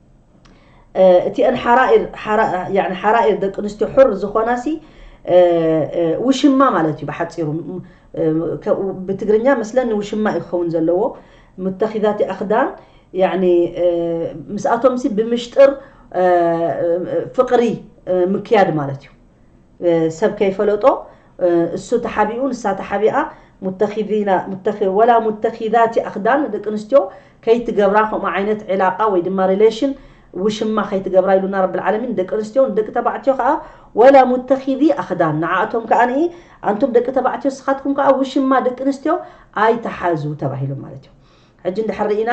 እቲአን ሓራኢር ያኒ ሓራኢር ደቂ ኣንስትዮ ሑር ዝኾናሲ ውሽማ ማለት እዩ ብሓፂሩ ብትግርኛ መስለን ንውሽማ እዩ ክኸውን ዘለዎ ሙተኺዛቲ ኣኽዳን ያኒ ምስኣቶምሲ ብምሽጥር ፍቕሪ ምክያድ ማለት እዩ ሰብ ከይፈለጦ እሱ ተሓቢኡ ንሳ ተሓቢኣ ሙተኺዚና ሙተኺ ወላ ሙተኺዛቲ ኣኽዳን ደቂ ኣንስትዮ ከይትገብራ ከምኡ ዓይነት ዕላቃ ወይ ድማ ሪሌሽን ውሽማ ከይትገብራ ኢሉና ረብል ዓለሚን ደቂ ኣንስትዮ ንደቂ ተባዕትዮ ከዓ ወላ ሙተኺዚ ኣኽዳን ንዓኣቶም ከዓ ንኢ ኣንቱም ደቂ ተባዕትዮ ንስኻትኩም ከዓ ውሽማ ደቂ ኣንስትዮ ኣይትሓዙ ተባሂሎም ማለት እዩ ሕጂ እንድሕር ሪኢና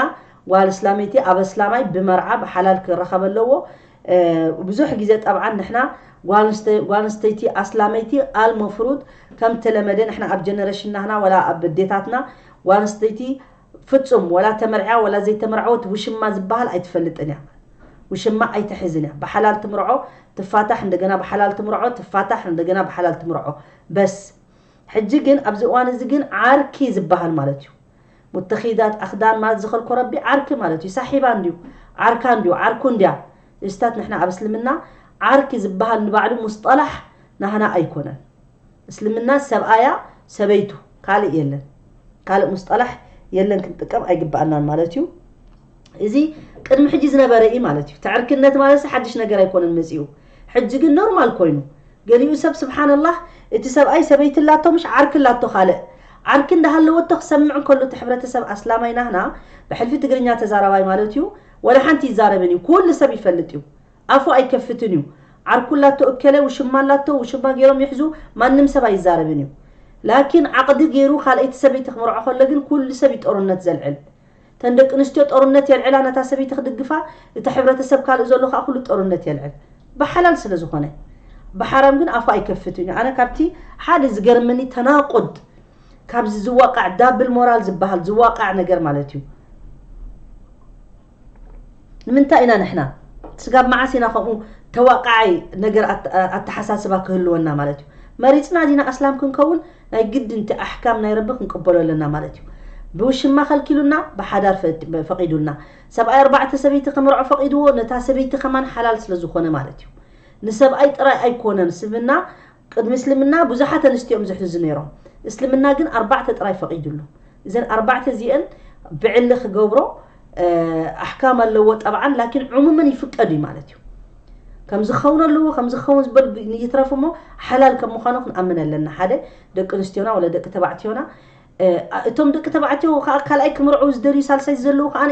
ጓል እስላመይቲ ኣብ ኣስላማይ ብመርዓ ብሓላል ክረከብ ኣለዎ ብዙሕ ግዜ ጠብዓን ንሕና ጓል ኣንስተይቲ ኣስላመይቲ ኣል መፍሩድ ከም ተለመደ ንሕና ኣብ ጀነሬሽን ናህና ወላ ኣብ ዴታትና ጓል ኣንስተይቲ ፍጹም ወላ ተመርዕያ ወላ ዘይተመርዓወት ውሽማ ዝበሃል ኣይትፈልጥን እያ ውሽማ ኣይትሕዝን እያ ብሓላል ትምርዖ ትፋታሕ እንደገና ብሓላል ትምርዖ ትፋታሕ እንደገና ብሓላል ትምርዖ በስ ሕጂ ግን ኣብዚ እዋን እዚ ግን ዓርኪ ዝበሃል ማለት እዩ ሙተኺዳት ኣኽዳን ማለት ዝኸልኮ ረቢ ዓርኪ ማለት እዩ ሳሒባ እንድዩ ዓርካ እንድዩ ዓርኩ እንድያ እዚታት ንሕና ኣብ እስልምና ዓርኪ ዝባሃል ንባዕሉ ሙስጠላሕ ናህና ኣይኮነን እስልምና ሰብኣያ ሰበይቱ ካልእ የለን ካልእ ሙስጠላሕ የለን ክንጥቀም ኣይግባኣናን ማለት እዩ እዚ ቅድሚ ሕጂ ዝነበረ ኢዩ ማለት ኢዩ። ተዕርክነት ማለትሲ ሓድሽ ነገር ኣይኮነን መጺኡ። ሕጂ ግን ኖርማል ኮይኑ። ገሊኡ ሰብ ስብሓነላህ እቲ ሰብኣይ ሰበይቲ ኣላቶ ምሽ ዓርኪ ኣላቶ ካልእ ዓርኪ እንዳሃለወቶ ክሰምዕ እንከሎ እቲ ሕብረተሰብ ኣስላማይ ናህና ብሕልፊ ትግርኛ ተዛራባይ ማለት ኢዩ ወላ ሓንቲ ኣይዛረብን ኢዩ ኩሉ ሰብ ይፈልጥ ኢዩ ኣፉ ኣይከፍትን ኢዩ ዓርኩ ኣላቶ እከለ ውሽማ ኣላቶ ውሽማ ገይሮም ይሕዙ ማንም ሰብ ኣይዛረብን ኢዩ ላኪን ዓቕዲ ገይሩ ካልኣይቲ ሰበይቲ ክምርዖ ከሎ ግን ኩሉ ሰብ ኢዩ ጦርነት ዘልዕል እተን ደቂ ኣንስትዮ ጦርነት የልዕላ ነታ ሰበይቲ ክድግፋ እቲ ሕብረተሰብ ካልእ ዘሎ ከኣ ኩሉ ጦርነት የልዕል ብሓላል ስለ ዝኾነ ብሓራም ግን ኣፉ ኣይከፍትን እዩ ኣነ ካብቲ ሓደ ዝገርመኒ ተናቁድ ካብዚ ዝዋቃዕ ዳብል ሞራል ዝበሃል ዝዋቃዕ ነገር ማለት እዩ ንምንታይ ኢና ንሕና ስጋብ መዓስ ኢና ከምኡ ተዋቃዓይ ነገር ኣተሓሳስባ ክህልወና ማለት እዩ መሪፅና ዲና ኣስላም ክንከውን ናይ ግድን እቲ ኣሕካም ናይ ረቢ ክንቅበሎ ኣለና ማለት እዩ ብውሽማ ከልኪሉና ብሓዳር ፈቂዱልና ሰብኣይ ኣርባዕተ ሰበይቲ ክምርዖ ፈቂድዎ ነታ ሰበይቲ ከማን ሓላል ስለ ዝኮነ ማለት እዩ ንሰብኣይ ጥራይ ኣይኮነን ስብና ቅድሚ እስልምና ብዙሓት ኣንስትዮ እዮም ዝሕዙ ነይሮም እስልምና ግን ኣርባዕተ ጥራይ ፈቂድሉ እዘን ኣርባዕተ እዚኤን ብዕሊ ክገብሮ ኣሕካም ኣለዎ ጠብዓን ላኪን ዑሙምን ይፍቀድ እዩ ማለት እዩ ከምዚ ክኸውን ኣለዎ ከምዚ ክኸውን ዝበል ይትረፍ እሞ ሓላል ከም ምዃኑ ክንኣምን ኣለና ሓደ ደቂ ኣንስትዮና ወለ ደቂ ተባዕትዮና እቶም ደቂ ተባዕትዮ ከዓ ካልኣይ ክምርዑ ዝደልዩ ሳልሳይ ዘለዉ ከዓ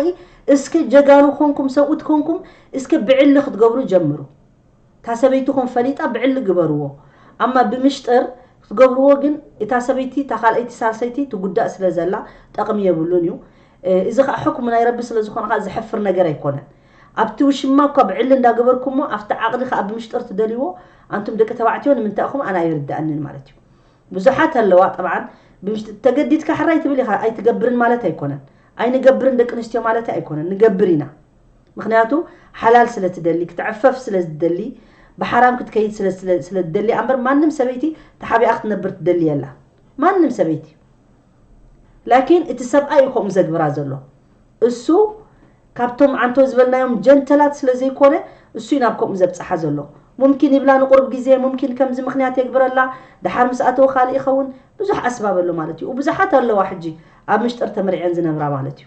እስከ ጀጋኑ ኮንኩም ሰብኡት ኮንኩም እስከ ብዕሊ ክትገብሩ ጀምሩ እታ ሰበይትኹም ፈሊጣ ብዕሊ ግበርዎ ኣማ ብምሽጥር ክትገብርዎ ግን እታ ሰበይቲ እታ ካልኣይቲ ሳልሰይቲ ትጉዳእ ስለ ዘላ ጠቅሚ የብሉን እዩ እዚ ከኣ ሕክሙ ናይ ረቢ ስለ ዝኾነ ከኣ ዘሕፍር ነገር ኣይኮነን ኣብቲ ውሽማ እኳ ብዕሊ እንዳ ገበርኩሞ ኣብቲ ዓቅዲ ከኣ ብምሽጥር ትደልይዎ ኣንቱም ደቂ ተባዕትዮ ንምንታይ እኹም ኣነ ኣይርደኣንን ማለት እዩ ብዙሓት ኣለዋ ጠብዓን ብምሽጥ ተገዲድካ ሕራይ ትብል ኢኻ ኣይትገብርን ማለት ኣይኮነን ኣይንገብርን ደቂ ኣንስትዮ ማለተይ ኣይኮነን ንገብር ኢና ምኽንያቱ ሓላል ስለ ትደሊ ክትዕፈፍ ስለ ዝትደሊ ብሓራም ክትከይድ ስለ ስለ ስለ ትደሊያ እምበር ማንም ሰበይቲ ተሓቢኣ ክትነብር ትደሊ የላ ማንም ሰበይቲ ላኪን እቲ ሰብኣይ እዩ ከምኡ ዘግብራ ዘሎ እሱ ካብቶም ዓንቶ ዝበልናዮም ጀንተላት ስለ ዘይኮነ እሱ እዩ ናብ ከምኡ ዘብጽሓ ዘሎ ሙምኪን ይብላ ንቁርብ ግዜ ሙምኪን ከምዚ ምኽንያት የግብረላ ድሓር ምስ ኣተወ ካልእ ይኸውን ብዙሕ ኣስባብ ኣሎ ማለት እዩ ብዙሓት ኣለዋ ሕጂ ኣብ ምሽጥር ተመሪዐን ዝነብራ ማለት እዩ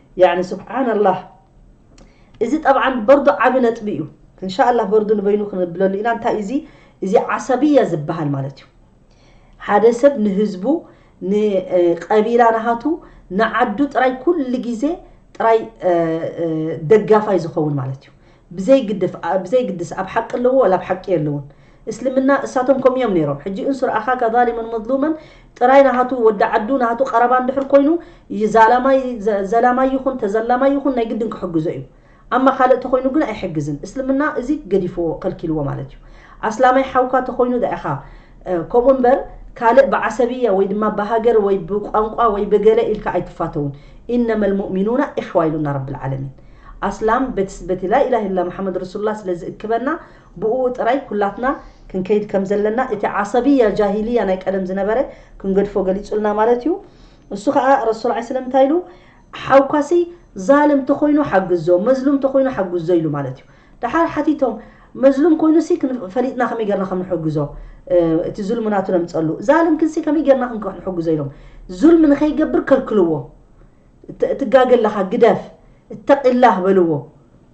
ያኒ ሱብሓነላህ እዚ ጠብዓን በርዱ ዓቢ ነጥቢ እዩ እንሻኣላህ በርዱ ንበይኑ ክንብለሉ ኢና እንታይ እዚ እዚ ዓሰብያ ዝበሃል ማለት እዩ ሓደ ሰብ ንህዝቡ ንቀቢላ ናሃቱ ንዓዱ ጥራይ ኩሉ ግዜ ጥራይ ደጋፋይ ዝኸውን ማለት እዩ ብዘይ ግድፍ ኣ ብዘይ ግድስ ኣብ ሓቂ ኣለዎ ወላ ኣብ ሓቂ የለውን እስልምና እሳቶም ከምኡ እዮም ነይሮም ሕጂ እንሱር ኣኻካ ዛሊመን መዝሉመን ጥራይ ናሃቱ ወዲ ዓዱ ናሃቱ ቀረባ እንድሕር ኮይኑ ዛላማይ ዘላማይ ይኹን ተዘላማይ ይኹን ናይ ግድን ክሕግዞ እዩ ኣማ ካልእ ተኾይኑ ግን ኣይሕግዝን እስልምና እዚ ገዲፍዎ ከልኪልዎ ማለት እዩ ኣስላማይ ሓውካ ተኾይኑ ዳኢኻ ከምኡ እምበር ካልእ ብዓሰብያ ወይ ድማ ብሃገር ወይ ብቋንቋ ወይ ብገለ ኢልካ ኣይትፋተውን ኢነመል ሙእሚኑና ኢሕዋ ኢሉና ረቢ ልዓለሚን ኣስላም በቲ በቲ ላኢላህ ኢላ መሓመድ ረሱሉላህ ስለ ዝእክበና ብኡኡ ጥራይ ኩላትና ክንከይድ ከም ዘለና እቲ ዓሰብያ ጃሂልያ ናይ ቀደም ዝነበረ ክንገድፎ ገሊጹልና ማለት እዩ እሱ ከኣ ረሱል ዓይ ስለም እንታይ ኢሉ ሓውካሲ ዛልም ተኾይኑ ሓግዞ መዝሉም ተኾይኑ ሓግዞ ኢሉ ማለት እዩ ደሓር ሓቲቶም መዝሉም ኮይኑሲ ፈሊጥና ከመይ ጌርና ከም ንሕግዞ እቲ ዙልሚ ናቱ ነምጸሉ ዛልም ክንሲ ከመይ ጌርና ክንከሕ ንሕግዞ ኢሎም ዙልሚ ንኸይገብር ከልክልዎ ትጋገ ኣለኻ ግደፍ እተቂላህ በልዎ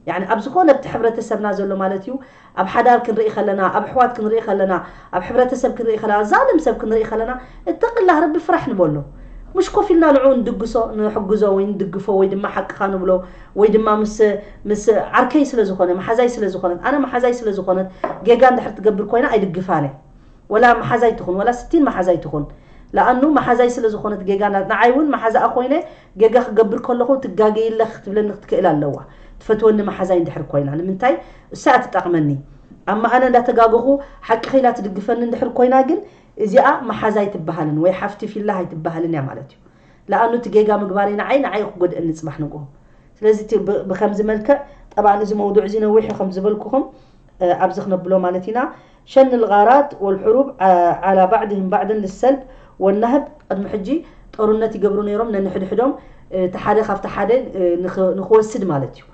ያኒ ኣብ ዝኾነ ኣብቲ ሕብረተሰብና ዘሎ ማለት እዩ ኣብ ሓዳር ክንርኢ ከለና ኣብ ኣሕዋት ክንርኢ ከለና ኣብ ሕብረተሰብ ክንርኢ ከለና ኣብዛ ኣለም ሰብ ክንርኢ ከለና እተቂላህ ረቢ ፍራሕ ንበሎ ሙሽ ኮፍ ኢልና ንዕኡ ንድግሶ ንሕግዞ ወይ ንድግፎ ወይ ድማ ሓቅኻ ንብሎ ወይ ድማ ምስ ምስ ዓርከይ ስለ ዝኾነ መሓዛይ ስለ ዝኾነት ኣነ መሓዛይ ስለ ዝኾነት ጌጋ እንድሕር ትገብር ኮይና ኣይድግፋን እየ ወላ መሓዛይ ትኹን ወላ ስቲን መሓዛይ ትኹን ለኣኑ መሓዛይ ስለ ዝኾነት ጌጋ ንዓይ እውን መሓዛኣ ኮይነ ጌጋ ክገብር ከለኹ ትጋገይለኽ ክትብለኒ ክትክእል ኣለዋ ትፈትወኒ መሓዛይ እንድሕር ኮይና ንምንታይ እሳ እያ ትጠቅመኒ ኣማ ኣነ እንዳ ተጋገኹ ሓቂ ኺላ ትድግፈኒ እንድሕር ኮይና ግን እዚኣ ማሓዛ ኣይትባሃልን ወይ ሓፍቲ ፊላህ ኣይትባሃልን እያ ማለት እዩ ላኣኑ እቲ ጌጋ ምግባረይ ናዓይ ናዓይ እዩ ክጎድእኒ ፅባሕ ንግሆ ስለዚ እቲ ብከምዚ መልክዕ ጠባን እዚ መውዱዕ እዚ ነዊሕ እዩ ከም ዝበልኩኹም ኣብዚ ክነብሎ ማለት ኢና ሸን ልጋራት ወልሑሩብ ዓላ ባዕድህም ባዕድን ልሰልብ ወናህብ ቅድሚ ሕጂ ጦርነት ይገብሩ ነይሮም ነንሕድሕዶም እቲ ሓደ ካብቲ ሓደ ንክወስድ ማለት እዩ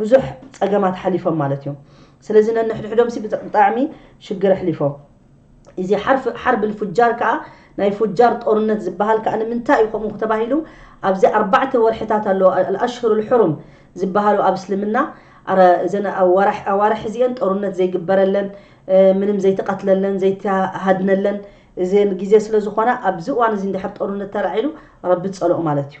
ብዙሕ ጸገማት ሐሊፎም ማለት እዮም ስለዚ ነንሕድሕዶምሲ ብጣዕሚ ሽግር ኣሕሊፎም ኢዚ ሐርብ ልፉጃር ከኣ ናይ ፉጃር ጦርነት ዝበሃል ከኣ ንምንታይ እዩ ከምኡ ተባሂሉ ኣብዚ ኣርባዕተ ወርሕታት ኣሎ ኣልኣሽሁር ልሑሩም ዝበሃሉ ኣብ እስልምና ኣረ እዘን ኣዋርሕ እዚኤን ጦርነት ዘይግበረለን ምንም ዘይትቀትለለን ዘይትሃድነለን እዚኤን ግዜ ስለዝኾና ኣብዚ እዋን እዚ እንድሕር ጦርነት ተላዒሉ ረቢ ጸልኦ ማለት እዩ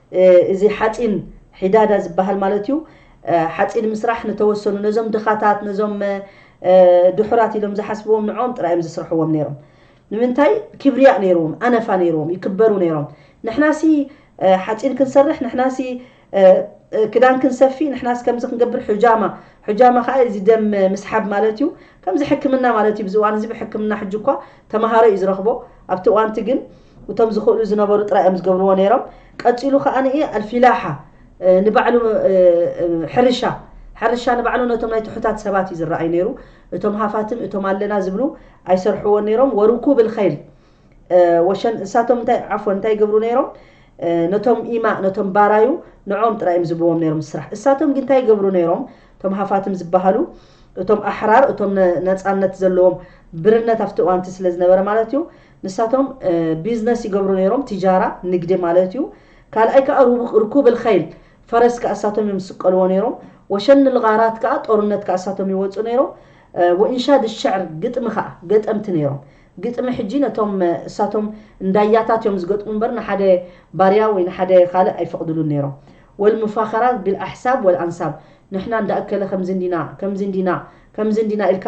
እዚ ሓጺን ሒዳዳ ዝበሃል ማለት'ዩ። ሓጺን ምስራሕ ንተወሰኑ ነዞም ድኻታት ነዞም ድሑራት ኢሎም ዝሓስብዎም ንዕኦም ጥራይ እዮም ዝስርሕዎም ነይሮም። ንምንታይ ኪብርያእ ነይርዎም ኣነፋ ነይርዎም ይክበሩ ነይሮም። ንሕናሲ ሓጺን ክንሰርሕ ንሕናሲ ክዳን ክንሰፊ ንሕናሲ ከምዚ ክንገብር ሑጃማ ሑጃማ ከኣ እዚ ደም ምስሓብ ማለት'ዩ። ከምዚ ሕክምና ማለት'ዩ። እዚ እዋን'ዚ ብሕክምና ሕጂ'ኳ ተመሃሮ እዩ ዝረኽቦ ኣብቲ እዋንቲ ግን። እቶም ዝኽእሉ ዝነበሩ ጥራይ እዮም ዝገብርዎ ነይሮም። ቀጺሉ ከኣ ኣልፊላሓ ንባዕሉ ሕርሻ ሕርሻ ንባዕሉ ነቶም ናይ ትሑታት ሰባት እዩ ዝረኣይ ነይሩ። እቶም ሃፋትም እቶም ኣለና ዝብሉ ኣይሰርሕዎ ነይሮም። ወርኩብ ልኸይል ወሸን እሳቶም እንታይ ዓፎ እንታይ ይገብሩ ነይሮም ነቶም ኢማ ነቶም ባራዩ ንዖም ጥራይ እዮም ዝብዎም ነይሮም ስራሕ እሳቶም ግን እንታይ ይገብሩ ነይሮም እቶም ሃፋትም ዝበሃሉ እቶም ኣሕራር እቶም ነፃነት ዘለዎም ብርነት ኣብቲ እዋንቲ ስለ ዝነበረ ማለት እዩ ንሳቶም ቢዝነስ ይገብሩ ነይሮም ቲጃራ፣ ንግዲ፣ ማለት እዩ። ካልኣይ ከኣ ሩኩብ ኣልኸይል፣ ፈረስ፣ ከኣ እሳቶም እዮም ዝስቀልዎ ነይሮም። ወሸን ኣልጋራት ከኣ፣ ጦርነት፣ ከኣ እሳቶም ይወጹ ነይሮም። ወኢንሻድ ኣልሸዕር፣ ግጥሚ፣ ከኣ ገጠምቲ ነይሮም። ግጥሚ ሕጂ ነቶም እሳቶም እንዳያታት እዮም ዝገጥሙ እምበር ንሓደ ባርያ ወይ ንሓደ ካልእ ኣይፈቅድሉን ነይሮም። ወኣልሙፋኸራት ቢልኣሕሳብ ወኣልኣንሳብ፣ ንሕና እንዳ እከለ ከምዚ እንዲና ከምዚ እንዲና ከምዚ እንዲና ኢልካ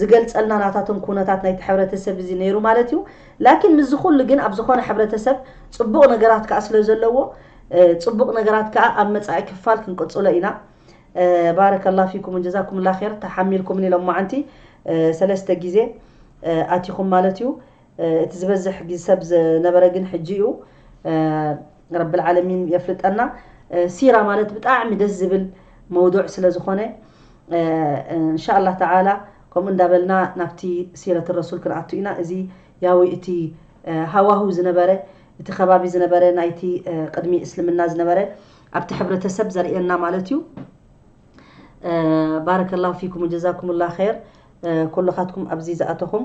ዝገልጸልና ናታቶም ኩነታት ናይቲ ሕብረተሰብ እዚ ነይሩ ማለት እዩ ላኪን ምስዚ ኩሉ ግን ኣብ ዝኾነ ሕብረተሰብ ጽቡቕ ነገራት ከኣ ስለ ዘለዎ ጽቡቕ ነገራት ከኣ ኣብ መጻኢ ክፋል ክንቅጽሎ ኢና ባረከላ ፊኩም ጀዛኩምላ ር ተሓሚልኩምኒ ሎማዓንቲ ሰለስተ ግዜ ኣቲኹም ማለት እዩ እቲ ዝበዝሕ ሰብ ዝነበረ ግን ሕጂ እዩ ረቢ ልዓለሚን የፍልጠና ሲራ ማለት ብጣዕሚ ደስ ዝብል መውዱዕ ስለ ዝኾነ እንሻላ ተዓላ ከምኡ እንዳበልና ናብቲ ሲረት ረሱል ክንኣቱ ኢና እዚ ያዊ እቲ ሃዋህው ዝነበረ እቲ ከባቢ ዝነበረ ናይቲ ቅድሚ እስልምና ዝነበረ ኣብቲ ሕብረተሰብ ዘርእየና ማለት እዩ ባረከ ላሁ ፊኩም ወጀዛኩም ላ ኸይር ኩልኻትኩም ኣብዚ ዝኣተኹም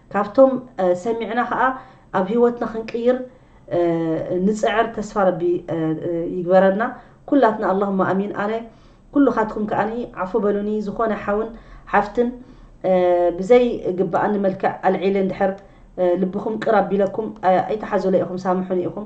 ካብቶም ሰሚዕና ከኣ ኣብ ሂወትና ክንቅይር ንጽዕር ተስፋ ረቢ ይግበረልና ኩላትና ኣላሁማ ኣሚን ኣነ ኩሉካትኩም ከኣ ዓፉ በሉኒ ዝኮነ ሓውን ሓፍትን ብዘይ ግበኣኒ መልክዕ ኣልዒለ እንድሕር ልብኩም ቅር ኣቢለኩም ኣይትሓዙለይ ኢኩም ሳምሑኒ ኢኩም